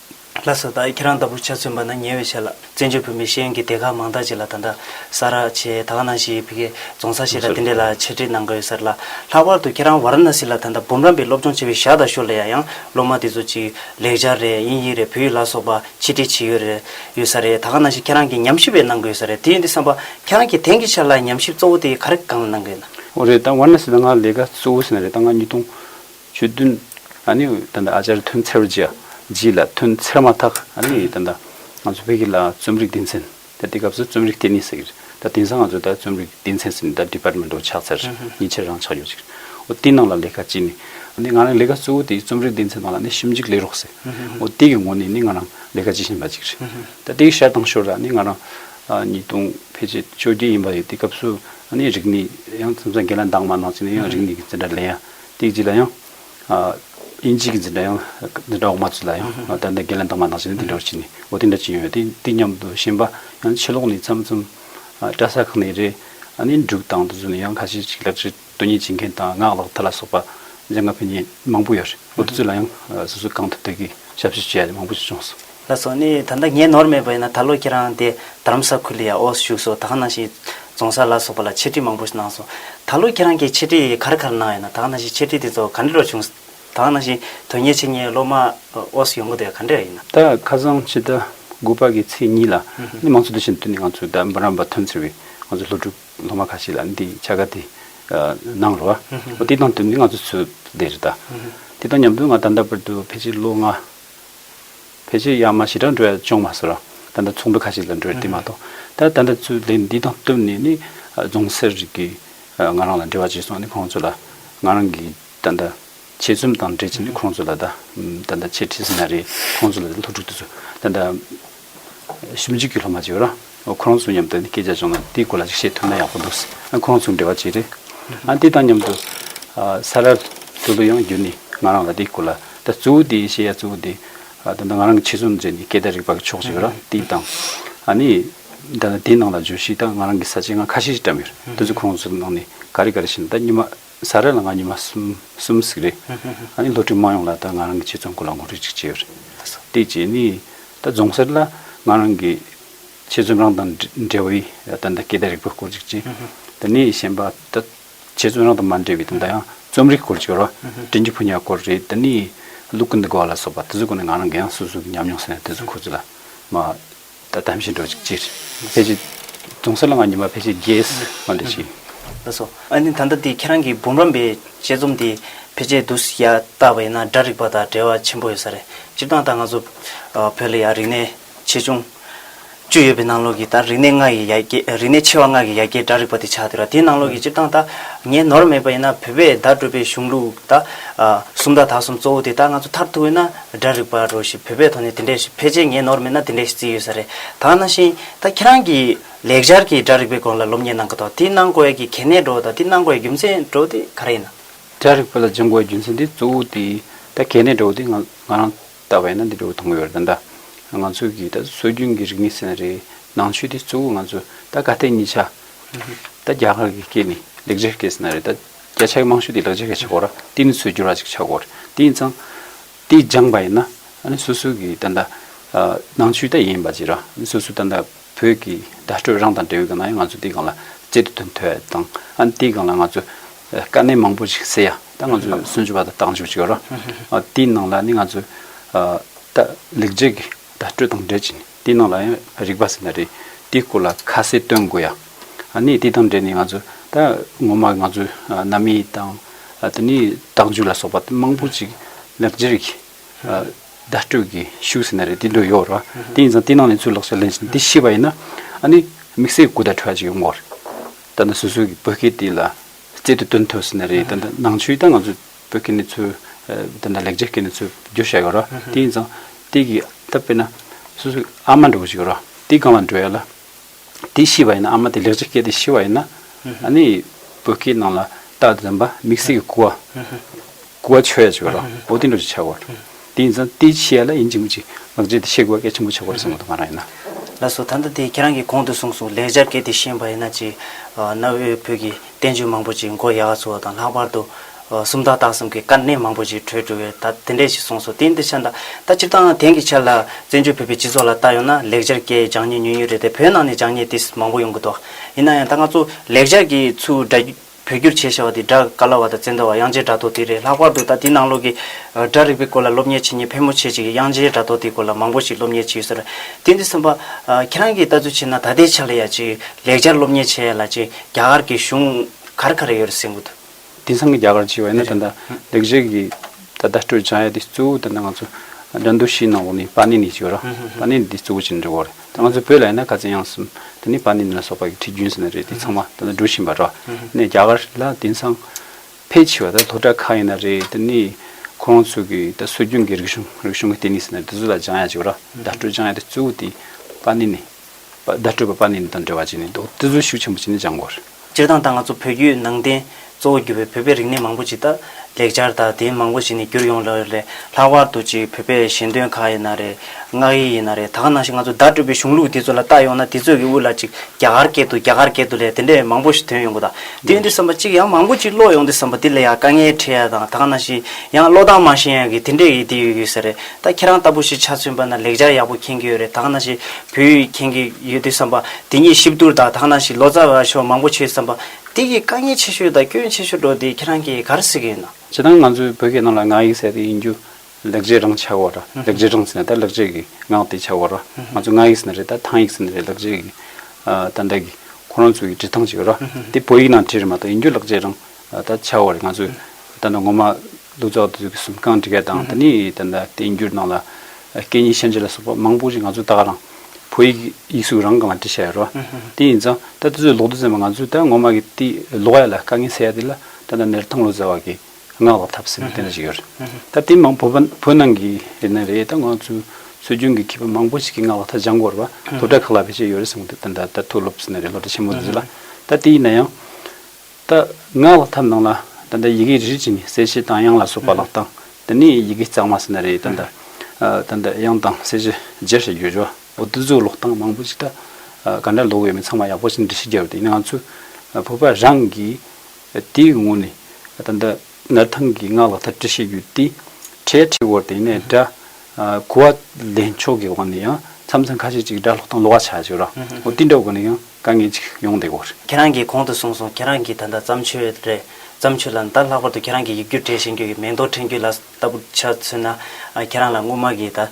ལ་སོགས་དང་ཁྱེད་རང་ལྟ་བུར་ཆ་མཚོན་པ་ན་ཉེ་བའི་ཆ་ལ་བཙན་བྱོལ་བོད་མི་གཞན་གྱི་སྡེ་ཁག་མང་དག་ཅིག་ལ་ད་ལྟ་ས་ར་ཆེ་ད་ག་ནང་ཞིག་ཡོད་བི་གའི་རྫོང་ས་ཆེ་དང་དེ་འདྲས་ལ་ཆེ་འབྲེལ་གནང་དགོས་ཡོད་ས་རེད་ལ། ལྷག་པར་དུ་ཁྱེད་རང་བ་ར་ན་སི་ལ་ད་ལྟ་འབུམ་རམས་པའི་སློབ་སྦྱོང་བྱེད་བའི་ཞག་དང་ཤོ་ལ་ཡ་ཡང་སློབ་མ་དེ་ཚོ་ཅིག་ལེགས་སྦྱར་རེད་དབྱིན་ཡིག་རེད་བོད་ཡིག་ལ་སོགས་པ་ཆེད་འབྲེལ་བྱེད་ཡོད་རེད་ཡོད་ས་རེད་ད་ག་ནང་ཞིག་ཁྱེད་རང་གིས་ཉམས་ཞིབ་བས་གནང་དགོས་ཡོད་ས་རེད་དེ་ཡིན་དུས་བསམ་པ་ཁྱེད་རང་གིས་དེང་གི་ཆ་ལ་ཉམས་ཞིབ་གཙོ་བོ་དེ་ག་རེ་གང་ལ་གནང་གི་ཡོད་ན། འོ་རེད་ད་བ་ར་ན་སི་ད་ང་ལས་ཀ་གཙོ་བོ་ཟིན་ན་རེད་ད་ང་ཉིས་སྟོང། ཆོས་བདུན། ཨ་ནི་ད་ནི་ཨ་ཅར་ཐོན་ཚེར་རྗེ་རྗེས་ལ་ཐོན་ཚེར་མ་ཐག་ཨ་ནི་ད་ནི། ང་ཚོ་བོད་ཀྱི་ལ་རྩོམ་རིག་སྡེ་ཚན་ད་དེ་སྐབས་སུ་རྩོམ་རིག་ལྟེ་གནས་ཟེར་གྱི་རེད་ད་དེང་སང་ང་ཚོ་ད་རྩོམ་རིག་སྡེ་ཚན་ཟེར་ནས་ད Department of ཆགས་ཚར་ཉིན་ཕྱེད་རང་ཆགས་ཡོད་ཅིག་རེད། དེའི་ནང་ལ་ལས་ཀ་ཅི་ནི། ཨ་ནི་ང་རང་ལས་ཀ་གཙོ་བོ་དེ་རྩོམ་རིག་སྡེ་ཚན་ནང་ལ་ནི་ཞིབ་འཇུག་ལས་རོགས་ཟེར། དེ་གི་ངོ་ནས་ནི་ང་རང་ལས་ཀ་བྱེད་བཞིན་པ་ཅིག་རེད། ད་དེའི་ཤར་དང་ཞོར་ལ་ནི་ང་རང། ཉིས་སྟོང་ཕལ་ཆེར་བཅོ་བརྒྱད་ཡིན་པ་ཡོད་དེ་སྐབས་སུ་ཨ་ནི་རིག་གནས་ཡང་འཛམ་ས་འགལ་ལ་འདང་མ་གནང་ཚེ་ནི་ཡང་རིག་གནས་ཀྱི་འཛིན་གྲྭ་ལས་ཡང། སྟེགས་གཅིག་ལ་ཡང། དབྱིན་ཇིའི་འཛིན་གྲྭ་ཡང། འཛིན་གྲྭ་འོག་མ་བཅས་ལ་ཡང། ད་ལྟ་འགན་ལེན་གཏོང་མ་གནང་ཕྱིན་ནས་དེ་འདྲ་བར་ཕྱིན་ནས་འོ་དེ་འདྲ་ཅི་ཡོང་ཡོད་དེ་འདི་སྙམ་དུ་ཕྱིན་པ། ཡང་ཕྱི་ལོགས་ནས་ཚམ་ཚོམ། བཀྲ་ས་ཁང་ནས་རེད། ནས་འབྲུག་དང་དུ་བཟོས་ནས་ཡང་ཁ་ཤས་ཤིག་ལག་ཁྲིད་སྟོན་ཉན་བྱེད་མཁན་དང་ངག་ལག་མཐིལ་ལ་སོགས་པ། སྦྱང་དགའ་ཕན་ཡོན་མང་པོ་ཡོད་རེད་འོ་དེ་ཚོ་ལ་ཡང། སོ་སོའི་གང་ཐུབ་ཐུབ་ཀྱིས་ཞབས་ཕྱི་བྱེད་ཡ་མང་པོ་ཞིག་བྱུང་སོང། ལ་སོགས་ནི་ད་ལྟ་ངས་ནོར་མེད་པ་ཡིན་ན་ད་ལོ་ཁྱེད་རང་དེ་རྡ་རམ་ས་ཁུལ་ལ་ཡང་ཨོ་སི་བཞུགས་སོ་ད་གནའ་ཞིག་རྫོང་སར་ལ་སོགས་པ་ལ་འཆད་ཁྲིད་མང་པོ་ཞིག་གནང་སོང། ད་ལོ་ཁྱེད་རང་གིས་འཆད་ཁྲིད་གར་གར་གནང་ཡོད་ན་ད་གནའ་ཞིག་འཆད་ཁྲིད་དེ་ཚོ་ག་འདྲེ་རུ་བྱུང། ད་གནའ་ཞིག་དོན་གཉེར་བྱེད་མཁན་སློབ་མ་ཨོ་སི་ཡོང་གི་འདུག་ཡ་ག་འདྲེ་ར་ཡིན་ན། ད་ཁ་སང་ཕྱི་ཟླ་དགུ་པ་གི་ཚེས་གཉིས་ལ་ནི་མང་ཚོགས་འདུ་ཤེས་འདུས་ནས་ང་ཚོ་ད་འབུམ་རམས་པ་ཐོན་ཟེར་བའི་ང་ཚོ་ལྷོ་སྒྲུབ་སློབ་མ་ཁ་ཤས་ལ་འདི་བྱ་དགའ་དེ་གནང་རོགས། འོ་དེ་དང་བསྟུན་ནས་ང་ཚོ་ཚོས་བསྡད་རེད་ད། དེ་དང་མཉམ་དུ་ང་ད་ལྟ་བར་དུ་ཕལ་ཆེར་ལོ་ལྔ་ཕལ་ཆེར་ཡང་མ་ཞི་དྲག་འགྲོ་ཡ་ཅུང་མ་ཟེར་བ། ད་ལྟ་ཚོང་འདུ་ཁ་ཤས་ལ་འགྲོ་ཡ་དེ་མ་གཏོགས། ད་ལྟ་ད་ཚུལ་ལས་འདི་དང་བསྟུན་ནས་ནི། རྫོང་སེར་རིགས་ཀྱི་ང་རང་ལ་འབྲེལ་བ་བྱས་སོང་ནི་ཁོང་ཚོ་ལ། ང་རང་གིས་ད་ལྟ་བྱེད་རྩོམ་དང་འབྲེལ་བྱས་ནས་ཁོང་ཚོ་ལ་ད། ད་ལྟ་ཆེ་བྲིས་ཟིན་ན་རེད་ཁོང་ཚོ་ལ་ལྷུ་དྲུག་དེ་ཚོ་ད་ལྟ། ཞིབ་འཇུག་གི་སློབ་མ་ཅིག་རང་ཁོ་རང་ཚོ་མཉམ་དུ་སྐད་ཆ་བྱུང་ན་དེའི་སྐོར་ལ་ཅིག་བཤད་ཐུབ་ན་ཡག་པོ་འདུག་ཟེར་ཁོ་རང་ཚོ་འབྲེལ་བ་བྱས་རེད། དེ་དང་མཉམ་དུ། ས་རཱ་ཏུ་ལུ་ཡང་བརྒྱུད་ནས་ང་རང་ལ་དེའི་སྐོར་ལ་ད་གཙོ་བོ་དེ་བཤད་ཡ་གཙོ་བོ་དེ། ད་ལྟ་ང་རང་གི་ཆེད་རྩོམ་མཛད་ནས་སྐད་བརྡ་རིག་པ་གི་ཕྱོགས་ཅིག་ར་དེ་དང། ནི། ད་ལྟ་དེའི་ནང་ལ་བརྗོད་གཞི་དང་ང་རང་གི་ས་བཅད་ང་ཁ་ཤས་ཤིག་བཀྲམས་ཡོད་རེད། དེ་ཚོ་ཁོ་རང་ཚོ་ནང་ནས་ག་རེ་ག་རེ་བྱས་ན་ད་སྙེ་མ། ས་རཱ་ལ་ང་ཉི་མ་གསུམ་གསུམ་ཟིག་རེད། ཨ་ནི་ལྷོ་ཁྲིད་དམངས་ཡོངས་ལ་ད་ང་རང་གི་ཆེད་རྩོམ་སྐོར་ལ་ངོ་སྤྲོད་ཅིག་བྱེད་རེད། དེ་རྗེས་ནི་ད་རྫོང་སར་ལ་ང་རང་གི་ཆེད་རྩོམ་རང་དང་འབྲེལ་བའི་ད་ལྟ་སྐད་བརྡ་རིག་པོའི་སྐོར་ཅིག་བྱས། དེ་ནས་གཞན་པ་ད་ཆེད་རྩོམ་རང་དང་མ་འབྲེལ་བའི་ད་ལྟ་ཡང་རྩོམ་རིག་སྐོར་ཅིག་རོ། དྲིན་གྱི་ཕོ་ཉའི་སྐོར་རེད་དེ་ནི་ཀླུ་ཀུན་ཏུ་དགའ་བ་ལ་སོགས་པ་དེ་ཚོའི་སྐོར་ནས་ང་རང་གི་ཡང་སོ་སོའི་ཉམས་མྱོང་ཟེར་ན་དེ་ཚོའི་སྐོར་ཅིག་ལ་མ། ད་ལྟ་བཞིན་འགྲོ་ཅིག་ཅེས། ཕལ་ཆེར། དུང་སེར་ལ་ང་ཉི་མ་ཕལ་ཆེར་རྒྱས། ཨ་འདྲ་ཞིག། ལ་སོགས། ཨ་ནི་ད་ལྟ་དེ་ཁྱེད་རང་གི་འབུམ་རམས་པའི་དཔྱད་རྩོམ་དེ་ཕལ་ཆེར་བསྡུ་ཡ་བཏགས་པ་ཡིན་ན་སྒྲ་རིག་པ་དང་འབྲེལ་བ་ཆེན་པོ་ཡོད་ས་རེད། སྤྱིར་བཏང་ད་ང་ཚོ། བོད་ལ་ཡང་རིག་གནས་ཆེ་ཆུང། བཅུ་ཡོད་པའི་ནང་ལོགས་ཀྱི་ད་རིག་གནས་ལྔ་ཡི་ཡ་གྱལ་རིག་གནས་ཆེ་བ་ལྔ་གི་ཡ་གྱལ་སྒྲ་རིག་པ་དེ་ཆགས་འདུག་ར་དེའི་ནང་ལོགས་ཀྱི་སྤྱིར་བཏང་ད། ངའི་ནོར་མེད་པ་ཡིན་ན་བོད་པའི་བརྡ་སྤྲོད་པའི་གཞུང་ལུགས་ད། གསུམ་ད་དག་གསུམ་གཙོ་བོ་དེ་ད་ང་ཚོ་མཐར་ཐུག་ཡིན་ན་སྒྲ་རིག་པ་རུ་ཞིག་བོད་པའི་ཐོག་ནས་དེ་འདྲས་ཞིག་ཕལ་ཆེར་ངའི་ནོར་མེད་ན་དེ་འདྲས་ཞིག་བརྩིས་ཡོད་ས་རེད་ད་ན་ཤིང་ད་ཁྱེད་རང་གི་ལེགས་སྦྱར་གྱི་སྒྲ་རིག་པའི་སྐོར་ལ་སློབ་གཉེར་གནང་གི་དོག་དེ་གནང་དགོས་ཡ་གི་གལ་གནད་འགྲོ་དང་དེ་གནང་དགོས་ཡ་རྒྱུ་མཚན་འགྲོ་དེ་ག་རེ་ཡིན་ན། སྒྲ་རིག་པ་ལ་སྦྱང་དགོས་ཡ་རྒྱུ་མཚན་དེ་གཙོ་བོ་དེ་ད་གལ་གནད་འགྲོ་དེ་ང་ང་རང་ལྟ་བས་ན་འདི་འགྲོ་མཐོང་གི་ཡོད་རེད་ད་ང་ཚོས་གི་ད་སྲོལ་རྒྱུན་གྱི་རིག་གནས་ཟེར་ན་རེད་ནང་ཆོས་དེ་གཙོ་བོ་ང་ཚོས་ད་ག་ལྟས་གཉིས་ཆ་ད་རྒྱ་གར་གྱི་སྐད་ནི་ལེགས་སྦྱར་སྐད་ཟེར་ན་རེད་ད། བརྒྱ་ཆའི་མང་ཤོས་དེ་ལག་འཇལ་གྱི་ཆ་སྒོར་ར་ཏི་ནི་ཚོས་བསྒྱུར་ར་ཅིག་ཆ་སྒོར་ཏི་ཡིན་ཙང། དེ་སྦྱངས་པ་ཡིན་ན། སོ་སོའི་གི་ད་ལྟ། ནང་ཆོས་ད་ཡིན་པ་ཅིག་ར་སོ་སོའི་ད་ལྟ་བོད་ཀྱི་བརྡ་སྤྲོད་རང་དང་འབྲེལ་ཡོད་གི་ན་ཡང་ང་ཚོ་དེ་གང་ལ་ཅི་སྟེ་དོན་ཐོས་དང། དེ་གང་ལ་ང་ཚོས་དཀའ་གནད་མང་པོ་ཞིག་སེལ་ཡ་ད་ང་ཚོས་སུན་ཅུ་བ་ད་བཏང་བཅུག་ཅིག་ར། དེའི་ནང་ལ་ནི་ང་ཚོས། ད་ལེགས་འཇལ་གྱི་བརྡ་སྤྲོད་དང་འབྲེལ་ཅིག་ནི། དེའི་ནང་ལ་ཡང་རིག་པ་ཟེར་ན་རེད། དེའི་སྐོར་ལ་ཁ་གསལ་སྟོན་དགོས་ཡ། ནས་དེ་དང་འབྲེལ་ནས་ང་ཚོ་ད་ངོ་མ་ང་ཚོའི་གནའ་མི་དང། དེ་ནས་བརྟག་འཇུག་ལ་སོགས་པ་མང་པོ་ཅིག་ལེགས་སྒྱུར་གྱིས། བརྡ་སྤྲོད་ཀྱི་ཤུགས་ཟེར་ན་རེད་དེ་འདྲ་ཡོད་རེད་བ། དེ་ཡིན་ཙང་དེ་ནང་ནས་ཚུར་ལོག་སོགས་ལེན་བཞིན་དེ་ཤེས་པ་ཡིན་ན། ནས་དམིགས་བསལ་གུ་དག་ཁྲོད་ཅིག་ཡོང་གོ་རེད། ད་ནི་སོ་སོའི་བོད་སྐད་དེ་ལ་རྩལ་དུ་སྟོན་ཐུབ་ཟེར་ན་རེད། ད་ནང་ཆོས་ད་ང་ཚོ་པོའི་སྐད་ནི་ཚུལ། དེ་འདྲ་ལེགས་སྦྱར་སྐད་ནི་ཚུལ་བསྒྱུར་བྱ་ཡོད་རོ། དེ་ཡིན་ཙང། དེ་གི་ད་དཔེར་ན། སོ་སོའི་ཨ་མ་འདྲ་བོ་ཞིག་ཡོད་རོ། དེ་གང་ལ་འདྲ་ཡོད་ལ། དེ་ཤི་བ་ཡིན་ན་ཨ་མ་དེ་ལེགས་སྦྱར་སྐད་དེ་ཤི་བ་ཡིན་ན། ཨ་ནི་བོད་སྐད་ནང་ལ་ད་དེ་འདྲ་མིག་སེར་གྱི་ཁུ་བ། ཀུ་བ་ཆོད་ཡ་ཅིག་ཡོད་རོ། འོ་དེ་འདྲ་ཅིག་ཆགས་དགོས། དེ་ཡིན་ཙང་དེ་བཤད་ལ་ཡིན་གྱི་མི་གཅིག་ལག་རྗེས་དེ་ཤེས་དགོས་གལ་ཆེན་པོ་ཆགས་དགོས་རེད་བསམ་གོ་ཐོག་མ་རང་ཡིན་ན། ལགས་སོ་ད་ལྟ་དེ་ཁྱེད་རང་གིས་གོང་དུ་གསུངས་སོང་ལེགས་སྦྱར་གལ་ཏེ་ཤེས་པ་ཡིན་ན་ཅིག་གནའ་བོའི་བོད་ཀྱི་བསྟན་བཅོས་མང་པོ་ཅིག་མགོ་ཡག་ག་ཚུགས་བ་དང་ལྷག་པར་དུ། སུམ་རྟགས་རྟགས་གསུམ་གྱི་དཀའ་གནད་མང་པོ་ཅིག་གྲོལ་འགྲོ་བས་ད་དེ་འདྲས་ཤིག་གསུངས་སོང་དེ་འདི་ཆ་ད་ད་སྤྱིར་བཏང་དེང་གི་ཆར་ལ་བཙན་བྱོལ་བོད་པའི་སྤྱི་ཚོགས་ལ་བལྟ་ཡོང་ན་ལེགས་སྦྱར་གྱི་སྦྱང་ཉེས་ཉུང་ཉུང་རེད་དེ་བོད་ནང་ནས་སྦྱང་ཉེས་དེ་མང་པོ་ཡོང་གི་འདུག་ཡིན་ན་ཡང་ད་ང་ཚོ་ལེགས་སྦྱར་གྱི་ཚུལ་འདྲ། བོད་བསྒྱུར་བྱས་ཞེས་བ་དེ་སྒྲ་ག་ལ་བ་དང་བཙན་དོ་བ་དབྱངས་ཅན་སྒྲ་ཐོ་དེ་རེད་ལྷག་པར་དུ་ད་དེ་ནང་ལོག་གི་སྒྲ་རིག་པའི་སྐོར་ལ་སློབ་གཉེར་བྱེད་མཁན་ཕལ་མོ་ཆེ་ཅིག་གིས་དབྱངས་ཅན་སྒྲ་ཐོ་དེའི་སྐོར་ལ་མང་པོ་ཞིག་སློབ་གཉེར་བྱེད་ཀྱི་ཟེར་རོ། དེ་འདི་སེམས་པ། ཁྱེད་རང་གིས་ལྟ་ཚུལ་བྱེད་ན་ད་ལྟའི་ཆ་ལ་ཡང་ཅིག་ལེགས་སྦྱར་སློབ་གཉེར་བྱེད་ཡ་ལ་ཅིག་རྒྱ་གར་གྱི་གཞུང་གར་ག་རེ་ཡོད་རེད་སེམས་གོ་ཐུ། དེང་སང་གི་རྒྱ་གར་ཅིག་བ་ཡིན་ན་ད་ལྟ་ལེགས་སྦྱར་གྱི་ད་ལྟ་སྤྲོད་བྱ་ཡ་དེ་གཙོ་བོ་ད་ལྟ་ང་ཚོ་དགྲ་འདུལ་ཕྱིའི་ནང་འོག་ནས་པཱ་ཎི་ནི་ཅིག་བ་ར། པཱ་ཎི་ནི་དེ་གཙོ་བོ་ཅིག་འབྲི་གོ་རེད། ད་ང་ཚོའི་བོད་ལ་ཡིན་ན་ག་ཚད་ཡངས་སམ། དེ་ནི་པཱ་ནིན་ལ་སོགས་པ་ཡི་ཁྲི་རྒྱུན་ཟེར་ན་རེད་དེ་ཚང་མ་ད་ལྟ་འགྲོ་བཞིན་པ་ར། ནས་རྒྱ་གར་ལ་དེང་སང་ཕལ་ཆེ་བ་ད་ལྷོ་བྲག་ཁ་ཡིན་ན་རེད་དེ་ནི་ཁོ་རང་ཚོ་གི་ད་སྲོལ་རྒྱུན་གི་རིག་གཞུང་རིག་གཞུང་གི་ལྟེ་གནས་ཟེར་ན་རེད་དེ་ཚོ་ལ་སྦྱང་ཡ་བྱེད་པ་ར་བརྡ་སྤྲོད་སྦྱང་ཡ་དེ་གཙོ་བོ་དེ་པཱ་ནིན་ནས་བརྡ་སྤྲོད་པ་པཱ་ནིན་དང་འབྲེལ་བ་བྱས་ནས་འདུག་དེ་ཚོ་ཤུགས་ཆེན་པོ་བྱས་ནས་སྦྱང་དགོས་རེད། སྤྱིར་བཏང་ད་ང་ཚོ་བོད་བརྒྱུད་ནང་བསྟན་གཙོ་བོ་གྱུར་པའི་བོད་པའི་རིག་གནས་མང་པོ་ཅིག་དང་ལེགས་སྦྱར་དག་དེའི་མང་པོ་ཞིག་ནི་འགྱུར་ཡོང་ལ་རེ་རེ་ལྷག་པར་དུ་ཅིག་བོད་པའི་གཞན་དོན་ཁག་ཡིན་ན་རེ། སྔགས་ཡིག་ཡིན་ན་རེ་ད་ག་ནང་ཞིག་ང་ཚོ་བརྡ་སྤྲོད་པའི་གཞུང་ལུགས་དེ་ཚོ་ལ་བལྟ་ཡོང་ན་དེ་ཚོས་ཀྱི་དབུ་ལ་ཅིག་རྒྱ་གར་སྐད་དུ་རྒྱ་གར་སྐད་དུ་ལས་དེ་འདྲས་མང་པོ་ཞིག་དོན་ཡོང་གི་དང་དེ་འདྲས་བསམ་པ་ཅིག་ཡང་མང་པོ་ཅིག་བློ་ཡོང་དེ་བསམ་པ་དེ་ལས་ཡང་དཀའ་ངལ་འཕྲད་ཡ་དང་ད་ག་ནང་ཞིག་ཡང་བློ་གདངས་མང་ཞན་ཡང་གི་དེ་འདྲས་ཀྱི་དེ་ཡོད་གི་ཟེར་རེད་ད་ཁྱེད་རང་ལྟ་བུ་ཞིག་ཆ་མཚོན་པ་ན་ལེགས་སྦྱར་ཡག་པོ་མཁྱེན་གྱི་ཡོད་རེད་ད་ག་ནང་ཞིག་བུ་ཡིས་མཁྱེན་གྱི་ཡོད་དུས་བསམ་པ། དེ་ཉིད་གཤིབ་བསྡུར་དང་ཐག་ན་ཞིག་ལོ་ཙཱ་བ་ཤོག་མང་པོ་བྱོས་བསམ་པ། དེ་གིས་དཀའ་ངལ་ཆེ་ཤོས་དང་སྐྱོན་ཆེ་ཤོས་འགྲོ་དེ་ཁྱེད་རང་གིས་ག་རེ་བསྲེ་གི་ཡོད་ན། བྱེད་སྟངས་ང་ཚོས་བོད་སྐད་ནང་ལ་ངག་ཡིག་ཟེར་ཏེ་ཡིན་རྒྱུ། ལེགས་བྱས་རང་ཆགས་བ་ར། ལེགས་བྱས་རང་ཟེར་ན་ད་ལེགས་བྱས་ཀྱི་ངག་དེ་ཆགས་བ་ར། ང་ཚོས་ངག་ཡིག་ཟེར་ན་རེད་ད་ཐང་ཡིག་ཟེར་ན་རེད་ལེགས་བྱས་ཀྱི། ད་འདྲ་གི། ཁོ་རང་ཚོ་ཡི་བྲིས་ཐང་ཅིག་ར། དེ་བོད་ཡིག་ནང་བྲིས་རེད་མ་གཏོགས་ཡིན་རྒྱུ་ལེགས་བྱས་རང། ད་ཆགས་བ་རེད་ང་ཚོས་ད་ནི་ངོ་མ། ལུགས་འཛོགས་དེ་ཚོ་གི་གསུམ་གང་འགྲིག་ག་དང་དེ་ནས་དེ་འདྲ་བསྟན་འགྱུར་ནང་ལ་སྐད་གཉིས་ཤན་འབྱེད་ལ་སོགས་པ་མང་པོ་ཞིག་ང་ཚོས་ད་ག་རང་བོད་ཡིག་ཡིག་གཟུགས་རང་གང་ལ་བྲིས་བྱས་ཡོད་རོ། དེ་ཡིན་ཙང་ད་དེ་ཚོས་ལོག་ཏུ་བཙན་པ་ང་ཚོས་ད་ངོ་མ་གི་དེ་ལོག་ཡ་ལ་དཀའ་ངལ་སེལ་ཡ་དེ་ལ་ད་ལྟ་ནེར་ཐང་ལོ་ཙཱ་བ་གི་ངག་ལ་ཐབས་ཟེར་ནི་དེ་འདྲ་ཞིག་ཡོད་རེད། ད་དེ་མང་བོ་བོད་ནང་གི་རེད་ན་རེད་ད་ང་ཚོས་སྲོལ་རྒྱུན་གི་མཁས་པ་མང་པོ་ཞིག་གི་ངག་ལ་ད་སྦྱང་དགོས་རེད་བ་སློབ་གྲྭ་ཁག་ལ་བེད་སྤྱད་ཡོད་རེད་བསམ་གི་འདུག་ད་ད་ལྟ་ཐུགས་སློབ་ཟེར་ནི་རེད་སློབ་གྲྭ་ཆེན་མོ་དེ་ཚོ་ལ་ད་དེ་ཡིན་ན་ཡང། ད་སྔ་ལག་ཐབས་ནང་ལ་ད་ལྟ་ཡི་གེ་རིལ་ཅིག་ནི་གསལ་བྱེད་དང་དབྱངས་ལ་སོགས་པ་ལག་དང་དེ་ནས་ཡི་གེ་གཙང་མ་ཟེར་ན་རེད་ད་ད་ད་ད་དབྱངས་དང་གསལ་བྱེད་བརྗེ་ཞེས་བརྗོད་བྱ་བ་འདི་ཚོའི་ལོག་གཏམ་མང་པོ་ཅིག་ད་ག་འདྲ་ལོག་ཡོད་མེད་ཚང་མ་ཡག་པོ་ཞིག་འབྲི་ཤེས་རྒྱབ་དེ་ནི་ང་ཚོའི་བོད་པ་རང་གིས་དེའི་ངོས་ནས་ད་ད་ནར་ཐང་གི་སྔགས་ལག་ཐབས་བྲི་ཤེས་རྒྱུ་དེ་གྲལ་ཁྲིག་བོར་དེ་ནས་སྒྲ་གོ་བ་ལེན་ཕྱོགས་ཀྱི་དབང་ནས་ཡང་མཚམས་མཚམས་ཁ་ཤས་ཅིག་སྒྲ་ལྷོག་དང་ལོག་བ་ཆགས་ཆོག་ར་འོ་དེ་འདྲ་དགོས་ན་ཡང། དཀའ་ངལ་ཅིག་ཡོང་བསྡད་གོ། ཁྱེད་རང་གིས་གོང་དུ་གསུངས་སོང་ཁྱེད་རང་གིས་ད་ལྟ་བརྩམས་ཆོས་རེད། བརྩམས་ཆོས་ལ་ནི་ད་ལྷག་པར་དུ་ཁྱེད་རང་གིས་ཡིག་སྒྱུར་གྲས་བཞེངས་རྒྱུ་ཡི་མེང་རྡོ་འཕྲེང་རྒྱུད་ལ་ལྟ་བུ་ཆ་མཚོན་ན། ཁྱེད་རང་ལ་སྔོན་མ་གི་ད།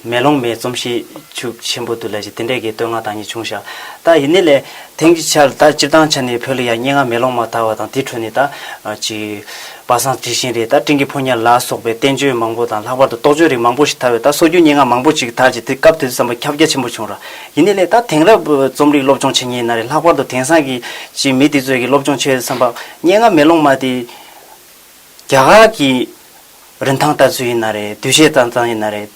མེ་ལོང་མའི་རྩོམ་གཤིས་ཆུ་ཆེན་པོ་དུ་ལས་ཀྱི་དེ་འདྲས་ཀྱི་བསྟོད་བསྔགས་དང་ཉིད་བྱུང་ཤག་ད་ཡིན་ནི་ལས། དེང་གི་ཆར་ད་སྤྱིར་བཏང་ཆ་ནི་བོད་ལ་ཡ་སྙིང་ང་མེ་ལོང་མ་དར་བ་དང་དེའི་ཁྲོད་ནས་ད། ཅི། པ་སངས་དྲི་ཞིང་རེད་ད་སྤྲིན་གྱི་ཕོ་ཉར་ལ་སོགས་པའི་བསྟན་བཅོས་མང་པོ་དང་ལྷག་པར་དུ་རྟོགས་བརྗོད་རིགས་མང་པོ་ཞིག་དར་བས་ད་སོ་རྒྱུ་སྙིང་ང་མང་པོ་ཅིག་དར་ཅིག་དེ་སྐབས་དེ་དུས་བསམ་པ་ཁྱབ་རྒྱ་ཆེན་པོ་བྱུང་ར་ཡིན་ནི་ལས་ད་དེང་རབས་རྩོམ་རིག་སློབ་སྦྱོང་བྱེད་ངེས་ཡིན་ན་རེད་ལྷག་པར་དུ་དེང་སང་གི་ཅི་མི་དེ་ཚོས་གི་སློབ་སྦྱོང་བྱེད་བསམ་པ་སྙན་ངག་མེ་ལོང་མ་དེ་རྒྱ་གར་གི་རིན་ཐང་ལྟར་ཚུལ་ཡིན་ན་རེད་འདུ་ཤེས་ཙང་ཙང་ཡིན་ན་རེད།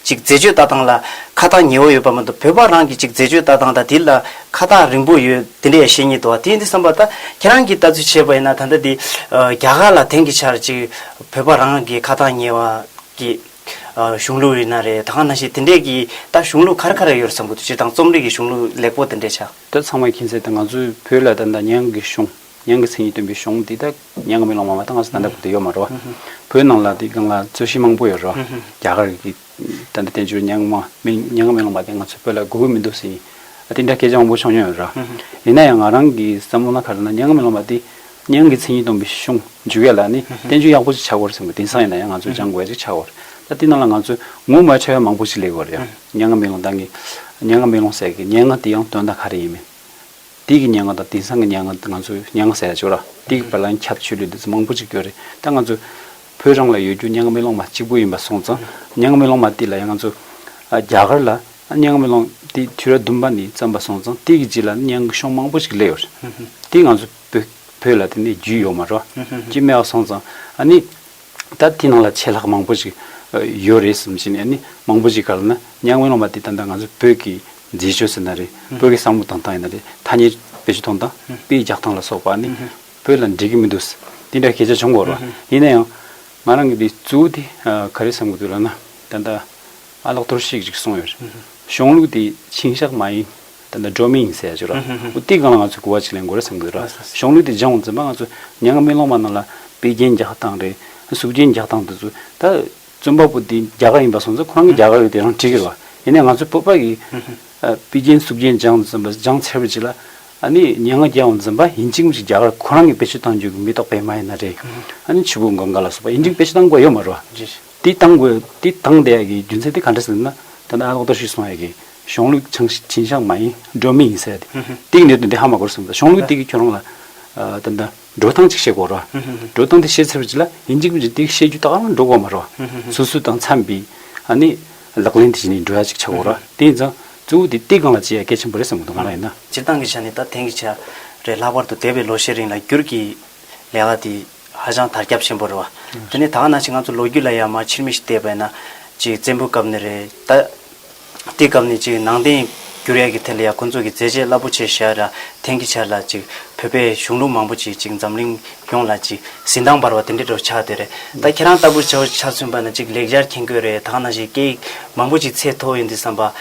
ཅིག་མཛེས་དཔྱོད་ལྟ་སྟངས་ལ་ཁ་ཐག་ཉེ་བོ་ཡོད་པ་མ་གཏོགས་བོད་པ་རང་གི་ཅིག་མཛེས་དཔྱོད་ལྟ་སྟངས་དང་དེ་ལ་ཁ་ཐག་རིང་པོ་ཡོད་དེ་འདྲས་ཤེས་ཉེས་དོ་དེ་འདི་བསམ་པ་ད་ཁྱེད་རང་གི་ལྟ་ཚུལ་བྱས་པ་ཡིན་ན་ད་ལྟ་དེ་རྒྱ་གར་ལ་དེང་གི་ཆར་ཅིག་བོད་པ་རང་གི་ཁ་ཐག་ཉེ་བ་གི། གཞུང་ལུགས་རིག་ན་རེད་ད་གང་ན་ཞིག་དེ་འདྲས་ཀྱི་ད་གཞུང་ལུགས་ག་རེ་ག་རེ་ཡོད་རེད་བསམ་གྱི་འདུག་སྤྱིར་བཏང་རྩོམ་རིག་གི་གཞུང་ལུགས་ལེགས་པོ་དེ་འདྲས་ཆགས། འདི་ཚང་མ་མཁྱེན་གསལ་ལྟར་ང་ཚོའི་བོད་ལ་ད་ད་ཉང་གི་གཞུང་ཉང་གི་མཚན་ཉིད་སྟོན་པའི་གཞུང་དེ་དག་ཉང་གི་མེ་ལོང་མ་མ་ད་ང་ཚོ་ད་ལྟ་བོད་དུ་ཡོད་མ་རེད་བ། བོད་ནང་ལ་དེ་གང་ལ་རྩོད་གཞི་མང་པོ་ཡོད་རེད་བ། རྒྱ་གར་གྱི་ད་ལྟ་བསྟན་བཅོས་ཉང་མ་མེ་ཉང་གི་མེ་ལོང་མ་དེ་ང་ཚོའི་བོད་ལ་དགོས་ཀྱི་མི་འདུག་ཟེར་ནས་དེ་འདྲ་སྐད་ཆ་མང་པོ་བྱུང་མྱོང་ཡོད་རེད་བ། ཡིན་ན་ཡང་ང་རང་གི་བསམ་བློ་ན་ག་རེ་ན་ཉང་གི་མེ་ལོང་མ་དེ་གཉེན་གྱི་མཚན་ཉིད་སྟོང་པའི་གཞུང། འཇུ་བའི་ལ་ནི་བསྟན་བཅོས་ཡག་པོ་ཅིག་ཆགས་དགོས་རེད་བསམ་གི་དེང་སང་ཡིན་ན་ཡང་ང་ཚོས་སྦྱང་དགོས་ཡག་ཅིག་ཆགས་དགོས་རེད་ད་འདི་ནང་ལ་ང་ཚོས་ངོ་མ་ཆོས་ཡག་མང་པོ་ཞིག་ལས་དགོས་རེད་ཡང་སྙན་ངག་མེ་ལོང་དང་གི་སྙན་ངག་མེ་ལོང་ཟེར་གི་སྙན་ངག་དེ་ཡང་དོན་དག་ག་རེ་ཡིན་མིན་འདི་གི་སྙན་ངག་དང་དེང་སང་གི་སྙན་ངག་ང་ཚོས་སྙན་ངག་ཟེར་ཡག་ཆོས་ར་འདི་གི་བར་ལ་ཡང་ཁྱབ་ཆོས་ལུགས་འདི་ཚོ་མང་པོ་ཅིག་ཡོད་རེད་ད་ང་ཚོས་བོད་རང་ལ་ཡོད་རྒྱུ་སྙན་ངག་མེ་ལོང་མ་གཅིག་པོ་ཡིན་པ་སོང་ཙང་སྙན་ངག་མེ་ལོང་མ་འདི་ལ་ཡང་ང་ཚོས་རྒྱ་གར་ལ་སྙན་ངག་མེ་ལོང་འདི་དུས་རབས་བདུན་པ་ནས་བརྩམས་པ་སོང་ཙང་འདི་གི་རྗེས་ལ་སྙན་ངག་གི་གཞུང་མང་པོ་ཞིག་སླེབས་ཡོད་རེད་འདི་ང་ཚོས། བུ། བོད་ལ་དེ་ནས་རྒྱུས་ཡོད་མ་རོ། ཅེས་སྨྲས་བ་སོང་ཙང། ཨ་ནི། ད་དེ་ནང་ལ་ཆད་ལྷག་མང་པོ་ཞིག་ཡོད་རེད་བསམ་བྱས་ནས་ཨ་ནི་མང་པོ་ཞིག་ག་ལ་ན་གཉའ་ངན་སློང་བ་དེ་ད་ནི་ང་ཚོ་བོད་ཀྱི་མཛེས་ཆོས་ཟེར་ན་རེད། བོད་ཀྱི་བསམ་བློ་དང་ཐང་ཡིན་ན་རེད་ཐ་སྙད་བེད་སྤྱོད་གཏོང་སྟངས་དཔེ་རྒྱག་སྟངས་ལ་སོགས་པ་ཨ་ནི་བོད་ལ་འགྲིག་གི་མི་འདུག་དེ་འདྲ་སྐད་ཆ་བྱུང་འགོ་ར། ཡིན་ན་ཡང། ང་རང་གི་དེ་གཙོ་བོ་དེ་ག་རེ་བསམ་གི་འདུག་ལ་ན། ད་ལྟ་ཨ་ལགས་ཐུར་ཤིག་ཅིག་སོང་ཡོད་རེད། གཞུང་ལུགས་དེ་འཆིང་ཞག་མ་ཡིན། དེ་འདྲ་འགྲོ་མི་ཡིན་ཟེར་ཡ་ཆོད་ར། ཨོ་དེའི་སྒང་ལ་ང་ཚོས་གོ་བ་ཅིག་ལེན་དགོས་ར་སེམས་དགོས་ར། གཞོང་ལུས་དེ་སྦྱང་བ་འཛིན་པ་ང་ཚོས་ཉག་ང་སྨིན་ལོང་མ་རྣམས་ལ་དཔེ་རྒྱན་རྒྱག་སྟངས་རེད། གཟུགས་རྒྱན་རྒྱག་སྟངས་དེ་ཚོ་ད། རྩོམ་པ་པོ་དེ་རྒྱ་གར་ཡིན་པ་སོང་ཚེ་ཁོ་རང་གི་རྒྱ་གར་དེ་རང་བྲིས་ཁེལ་བ། ཡིན་ནའི་ང་ཚོའི་བོད་པ་ཡི། དཔེ་རྒྱན་གཟུགས་རྒྱན་སྦྱང་འཛིན་པ་སྦྱང་ཚེ་བ་ཅིག་ལ། ཨ་ནི་ཉག་ང་རྒྱལ་བ་འཛིན་པ་ཡིན་གཅིག་མ་གཅིག་རྒྱ་གར་ཁོ་རང་གི་དཔེ་ཆོས་བཏང་རྒྱུ་གི་མི་རྟོག་པས་མ་ཡིན་ན་རེད། ཨ་ནི་ཆུ་བོ་འགོ་འགའ་ལ་སོགས་པ་ཡིན་གཅིག་དཔེ་ཆོས་བཏང་དགོས་ཡོད་མ་རོ། ཇི་ཞིག། འདི་བཏང་དགོས། འདི་བཏང་བསྡད་ཡག་གི་རྒྱུ་མཚན་དེ་ག་འདྲ་ཟེར་ན། ད་ནངས་ལོག་ལྟ་ཞིག་སོང་ཡག་གི། གཞོང་ལུག་བྱང་བྱིན་ཤང་མ་ཡིན་འགྲོ་མི་ཡིན་ཟེར་ཡག་གི། འདི་གི་གནད་དོན་དེ་ཧ་མ་གོ་རེ་ཟུང་ད་གཞོང་ལུག་འདི་གི་ཁྱོད་རང་ལ། ད་ནངས་འགྲོ་སྟངས་གཅིག་ཤེས་དགོས་རོ། འགྲོ་སྟངས་དེ་ཤེས་ཚར་བའི་རྗེས་ལ་ཡིན་གཅིག་པུ་རེ་འདི་ཤེས་རྒྱུ་ད་ག་རང་འགྲོ་དགོས་མ་རོ། སུ་སུ་དང་འཚམས་པའི། ཨ་ནི། ལག་ལེན་དེ་བྱས་ནས་འགྲོ་ཡག་ཅིག་བྱ་དགོས་རོ། དེ་ཡིན་ཙང། གཙོ་བོ་དེ་སྟེ་གང་ལ་བྱེད་ཡག་གལ་ཆེན་པོ་རེད་བསམ་གྱི་འདུག་གང་ལ་ཡིན་ན། སྤྱིར་བཏང་གི་ཆ་ནས་ད་དེང་གི་ཆ། རེད་ལྷག་པར་དུ་འདས་པའི་ལོ་ཤས་རིང་ལ་བསྒྱུར་གྱི། ལས་ཀ་དེ། ཧ་ཅང་དར་ཁྱབ་ཆེན་པོ་རེད་བ། དེ་ནས་ད་ག་ནང་བཞིན་ང་ཚོ་ལོ་རྒྱུས་ལ་ཡང་མ་ཕྱིར་མིག་ཞིག་བལྟས་པས་ན། ཅིག་བཙན་པོའི་སྐབས་ནས་རེད། ད་དེའི་སྐབས་ནས་ཅིག་ནང་བསྟན་འགྱུར་ཡག་གི་ཐད་ལ་ཡང་ཁོང་ཚོ་གི་མཛད་རྗེས་རླབས་པོ་ཆེ་ཞེས་ར་འཐེན་གི་ཆར་ལ་ཅིག་བོད་པའི་གཞུང་ལུགས་མང་པོ་ཅིག་ཅིག་འཛམ་གླིང་ཡོངས་ལ་ཅིག་གཟི་མདངས་འབར་བ་དེ་འདྲའི་འགྲོ་ཆགས་དེ་རེད། ད་ཁྱེད་རང་ལྟ་བུར་བྱ་བ་ཆ་མཚོན་པ་ན་ཅིག་ལེགས་སྦྱར་མཁྱེན་དགོས་རེད་ད་ག་ནང་བཞིན་སྐད་ཡིག་མང་པོ་ཞིག་ཚད་མཐོ་ཡོད་འདི་བསམ་པ།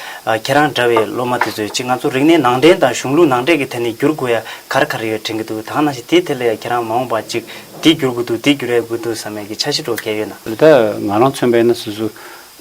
ཁྱེད་རང་འདྲ་བའི་སློབ་མ་དེ་ཚོས་ཅི་ང་ཚོ་རིག་གནས་ནང་འདྲེན་དང་གཞུང་ལུགས་ནང་འདྲེན་གྱི་ཐད་ནས་བསྒྱུར་དགོས་ཡ་གར་ག་རེ་ཡོད་དྲན་གྱི་འདུག་དག་ནང་བཞིན་དེའི་ཐད་ལ་ཡ་ཁྱེད་རང་མ་འོངས་པ་ཅིག་འདི་བསྒྱུར་དགོས་འདུག་འདི་བསྒྱུར་ཡ་དགོས་འདུག་བསམ་ཡ་གྱི་འཆར་གཞི་སྒྲོག་གལ་ཡོད་ན། འདི་དག་ང་རང་མཚོན་པས་ན་སོ་སོ་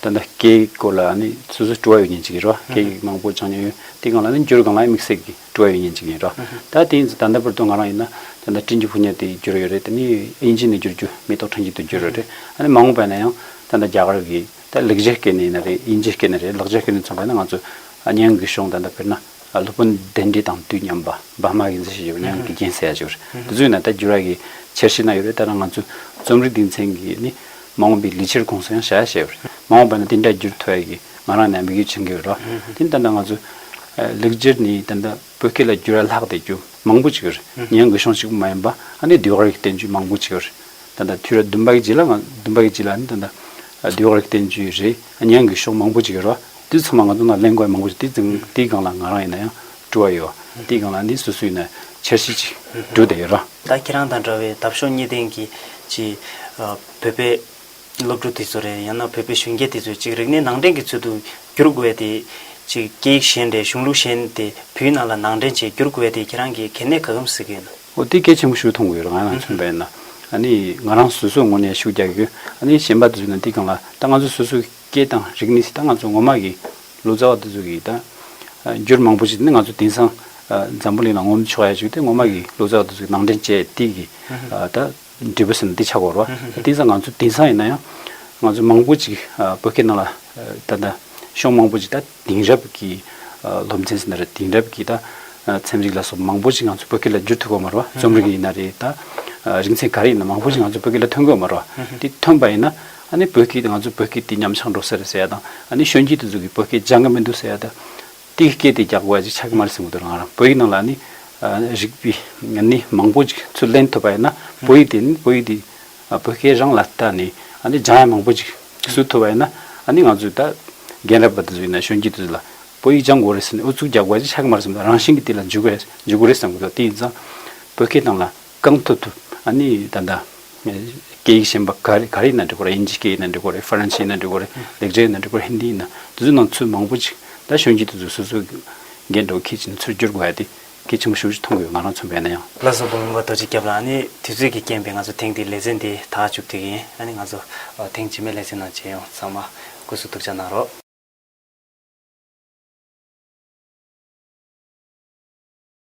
ད་ལྟ་སྐད་ཡིག་སྐོར་ལ་ནི་སོ་སོའི་སྤྲོ་བ་ཡོད་ཉེན་ཅིག་ཡིན་རོ། སྐད་ཡིག་མང་པོ་སྦྱང་མྱོང་ཡོད་དེ་གང་ལ་ནི་བསྒྱུར་གང་ལ་ཡང་དམིགས་བསལ་གྱི་སྤྲོ་བ་ཡོད་ཉེན་ཅིག་ཡིན་རོ། ད་དེ་ཡིན་ཚེ་ད་ལྟ་བར་དུ་ང་རང་ཡིན་ན་ད་ལྟ་བཀྲིན་རྗེ་ཕུ་ཉག་དེ་བསྒྱུར་ཡོད་རེད་དེ་ནི་དབྱིན་ཇི་ནས་བསྒྱུར་རྒྱུ་མེ་ཏོག་ཕྲེང་གཅིག་ཏུ་བསྒྱུར་ཡོད་རེད། ཨ་ནི་མ་འོངས་པས་ན་ཡང་ད་ལྟ་རྒྱ་གར་གྱི། ད་ལེགས་བྱས་སྐད་ནི་ཡིན་ན་རེད་དབྱིན་ཇིའི་སྐད་ནི་རེད་ལེགས་བྱས་སྐད་ནི་མཚོན་པ་ཡིན་ན་ང་ཚོ་གཉན་གི་གཞུང་ད་ལྟ་དཔེར་ན་སློབ་དཔོན་གདན་འདྲེ་དང་དུས་མཉམ་པ་འབར་མ་གི་མཛད་བཞེད་ཞུ་བ་གཉན་གི་རྒྱན་ཟེར་ཡ་ཞུ་བ་རེད་དེ་ཚོ་ཡིན་ན་ད་འགྱུར་བ་གི་ཕྱིར་ཤེས་ན་ཡོད་རེད་ད་ང་ཚོའི་རྩོམ་རིག་སྡེ་ཚན་གྱིས་ནི་མ་འོངས་པའི་ལི་ཆིར་གོང་སོང་ཡང་བྱ་ཡ་བྱས་ཡོད་རེད་མ་འོངས་པ་ན་དེ་འདྲ་འགྱུར་ཐུབ་ཡ་གི་ང་རང་ནས་དམིགས་ཡུལ་བྱེད་ཀྱི་ཡོད་རེད་ད་ལྟ་ང་ཚོ་ལེགས་བྱས་ནི་ད་ལྟ། བོད་སྐད་ལ་བསྒྱུར་ཡ་ལྷག་དེ་རྒྱུ་མང་པོ་ཅིག་རེད་ཉན་དགོས་ཤོང་ཅིག་པོ་མ་ཡིན་པ་ཨ་ནི་ལྡེའུ་རིགས་བསྟན་བཅོས་མང་པོ་ཅིག་རེད་ད་ད་དུས་རབས་བདུན་པ་གི་རྗེས་ལ་ང་བདུན་པ་གི་རྗེས་ལ་ནི་ད་ད་ལྡེའུ་རིགས་བསྟན་བཅོས་རེད་ཉན་དགོས་ཤོང་མང་པོ་ཅིག་རེད་དུས་ཚང་མ་ང་ཚོ་ནང་གླེང་དགོས་ཡ་མང་པོ་ཅིག་དེ་དེའི་སྒང་ལ་ང་རང་ཡིན་ན་ཡང་སྤྲོ་བ་ཡོད་དེའི་སྒང་ལ་ནི་སུ་སུ་ཡིན་ན་འཆར་གཞི་ཅིག་སྦྲུ་དེ་ཡོད་ར། ད་ཁྱེད་རང་དང་འདྲ་བའི་འདབ་གཤོག་གཉིས་ལྡན་གྱི་ཅི། བོད་པའི། ཀྱི་སློབ་ཕྲུག་དེ་ཚོ་རེད་ཡང་ན་བོད་པའི་གཞོན་སྐྱེས་དེ་ཚོས་ཅིག་རིག་གནས་ནང་འདྲེན་གྱི་ཚུལ་དུ་བསྒྱུར་དགོས་ཏེ། ཅིག་སྐད་ཡིག་གཞན་དེ་གཞུང་ལུགས་གཞན་དེ་བོད་ཡིག་ནང་ལ་ནང་འདྲེན་བྱེད་བསྒྱུར་དགོས་ཏེ་ཁྱེད་རང་གིས་གལ་གནད་ག་གམ་གཟིགས་ཀྱི་ཡོད་ན། ཨོ་དེ་གལ་ཆེན་པོ་ཞུ་མཐོང་གི་ཡོད་རང་ཡང་ཆུང་བས་ན་ནི་ང་རང་སོ་སོའི་ངོ་ནས་ཤུགས་རྒྱག་གི་ཡོད་ནི་གཞན་པ་དེ་ཚོས་ན་དེ་གང་ལ་ད་ང་ཚོ་སོ་སོའི་སྐད་དང་རིག་གནས་སི་ད་ང་ཚོ་ངོ་མ་གི་ལོ་ཙཱ་བ་དེ་ཚོ་གིས་ད་བསྒྱུར་མང་པོ་བྱེད་དེ་ནི་ང་ཚོ་དེང་སང་འཛམ་བུ་གླིང་ལ་ངོམ་ཆོག་ཡ་བྱུང་སྟེ་ངོ་མ་གི་ལོ་ཙཱ་བ་དེ་ཚོ་གི་ནང་འདྲེན་བྱས་དེ་གིས་ད་འབྲས་བུ་ཟིན་ན་འདི་ཆགས་པར་རོ། དེང་སང་ང་ཚོ་དེང་སང་ཡིན་ན་ཡང། ང་ཚོ་མང་པོ་ཅིག་བོད་སྐད་ནང་ལ་ད་ལྟ་ཤོག་མང་པོ་ཅིག་ད་དེང་རབས་ཀྱི་སློབ་ཚན་ཟིན་ན་རེད་དེང་རབས་ཀྱི་ད་ཚན་རིག་ལ་སོགས་མང་པོ་ཅིག་ང་ཚོ་བོད་སྐད་ལ་བསྒྱུར་ཐུབ་དགོས་མ་རོ། རྩོམ་རིག་ཡིན་ན་རེད་ད། རིག་ཚན་ག་རེ་ཡིན་ན་མང་པོ་ཅིག་ང་ཚོ་བོད་སྐད་ལ་ཐོན་དགོས་མ་རོ། དེ་ཐོན་པ་ཡིན་ན་ཨ་ནི་བོད་སྐད་དེ་ང་ཚོ་བོད་སྐད་དེ་ཉམས་ཆག་འགྲོ་ས་རེད་ཟེར་ཡ་དང་ཨ་ནི་གཞོན་སྐྱེས་དེ་ཚོ་གི་བོད་སྐད་སྦྱང་གི་མི་འདུག་ཟེར་ཡ་དང། ཏིག་སྐད་དེ་རྒྱག་དགོས་ཅེས་ཕྱག་གི་མར་སྲིང་མོ་དེ་ལ་ང་རང་བོད་ཡིག་ནང་ལ་ནི་རིག་པའི་ནི་མང་པོ་ཅིག་ཚུར་ལེན་ཐུབ་པ་ཡིན་ན་བོད་ཡིག་དེ་ནི་བོད་ཡིག་དེ་བོད་སྐད་རང་ལ་ལྟ་ནས་ཨ་ནི་སྦྱང་ཡ་མང་པོ་ཅིག་བཟོས་ཐུབ་པ་ཡིན་ན་ཨ་ནི་ང་ཚོས་ད་རྒན་རབས་པ་དེ་ཚོ་ཡིན་ན་གཞོན་སྐྱེས་དེ་ཚོ་ལ་བོད་ཡིག་སྦྱང་དགོས་རེད་ཟེར་ནས་ཨུ་ཚུགས་རྒྱག་དགོས་ཅེས་ཕྱག་གི་མར་སྲིང་མོ་དེ་རང་བཞིན་གྱིས་དེ་ལ་འཇུག་གི་རེད་འཇུག་གི་རེད་བསམ་གི་འདུག་དེ་ཡིན་ཙང་བོད་སྐད་ནང་ལ་གང་ཐུབ་ཐུབ་ཨ་ནི་ད་ལྟ། སྐད་ཡིག་གཞན་པ་ག་རེ་ག་རེ་ཡིན་ན་འགྲིག་གོ་རེ་ཨིན་ཇིའི་སྐད་ཡིན་ན་འགྲིག་གོ་རེ་ཧྥ་རན་སིའི་ཡིན་ན་འགྲིག་གོ་རེ་ལེགས་སྦྱར་ཡིན་ན་འགྲིག་གོ་རེ་ཧིན་དྷི་ཡིན་ན་དེ་ཚོའི་ནང་ཚུལ་མང་པོ་ཅིག་ད་གཞོན་སྐྱེས་དེ་ཚོས་སོ་སོའི་འགན་འགྲོ་ཁས་ཅིན་ཚུར་བསྒྱུར་དགོས་ཡ་དེ་གལ་ཆེན་པོ་ཤུགས་ཆེ་མཐོང་དགོས་ཡོད་ང་རང་མཚོན་པའི་ན་ཡང། བླ་བཟང་དགོངས་མེད་པ་རྡོ་རྗེ་སྐྱབས་ལགས་ཨ་ནི་དུས་ཚོད་ཀྱི་རྐྱེན་པས་ང་ཚོ་ཐེངས་འདིའི་ལེ་ཚན་འདི་ད་བཅུག་ཐུག་གི་ཡིན་ཨ་ནི་ང་ཚོ་ཐེངས་རྗེས་མའི་ལེ་ཚན་ནང་མཇལ་ཡོང་ཚང་མ་སྐུ་གཟུགས་ཐུགས་ཅག་གནང་རོགས།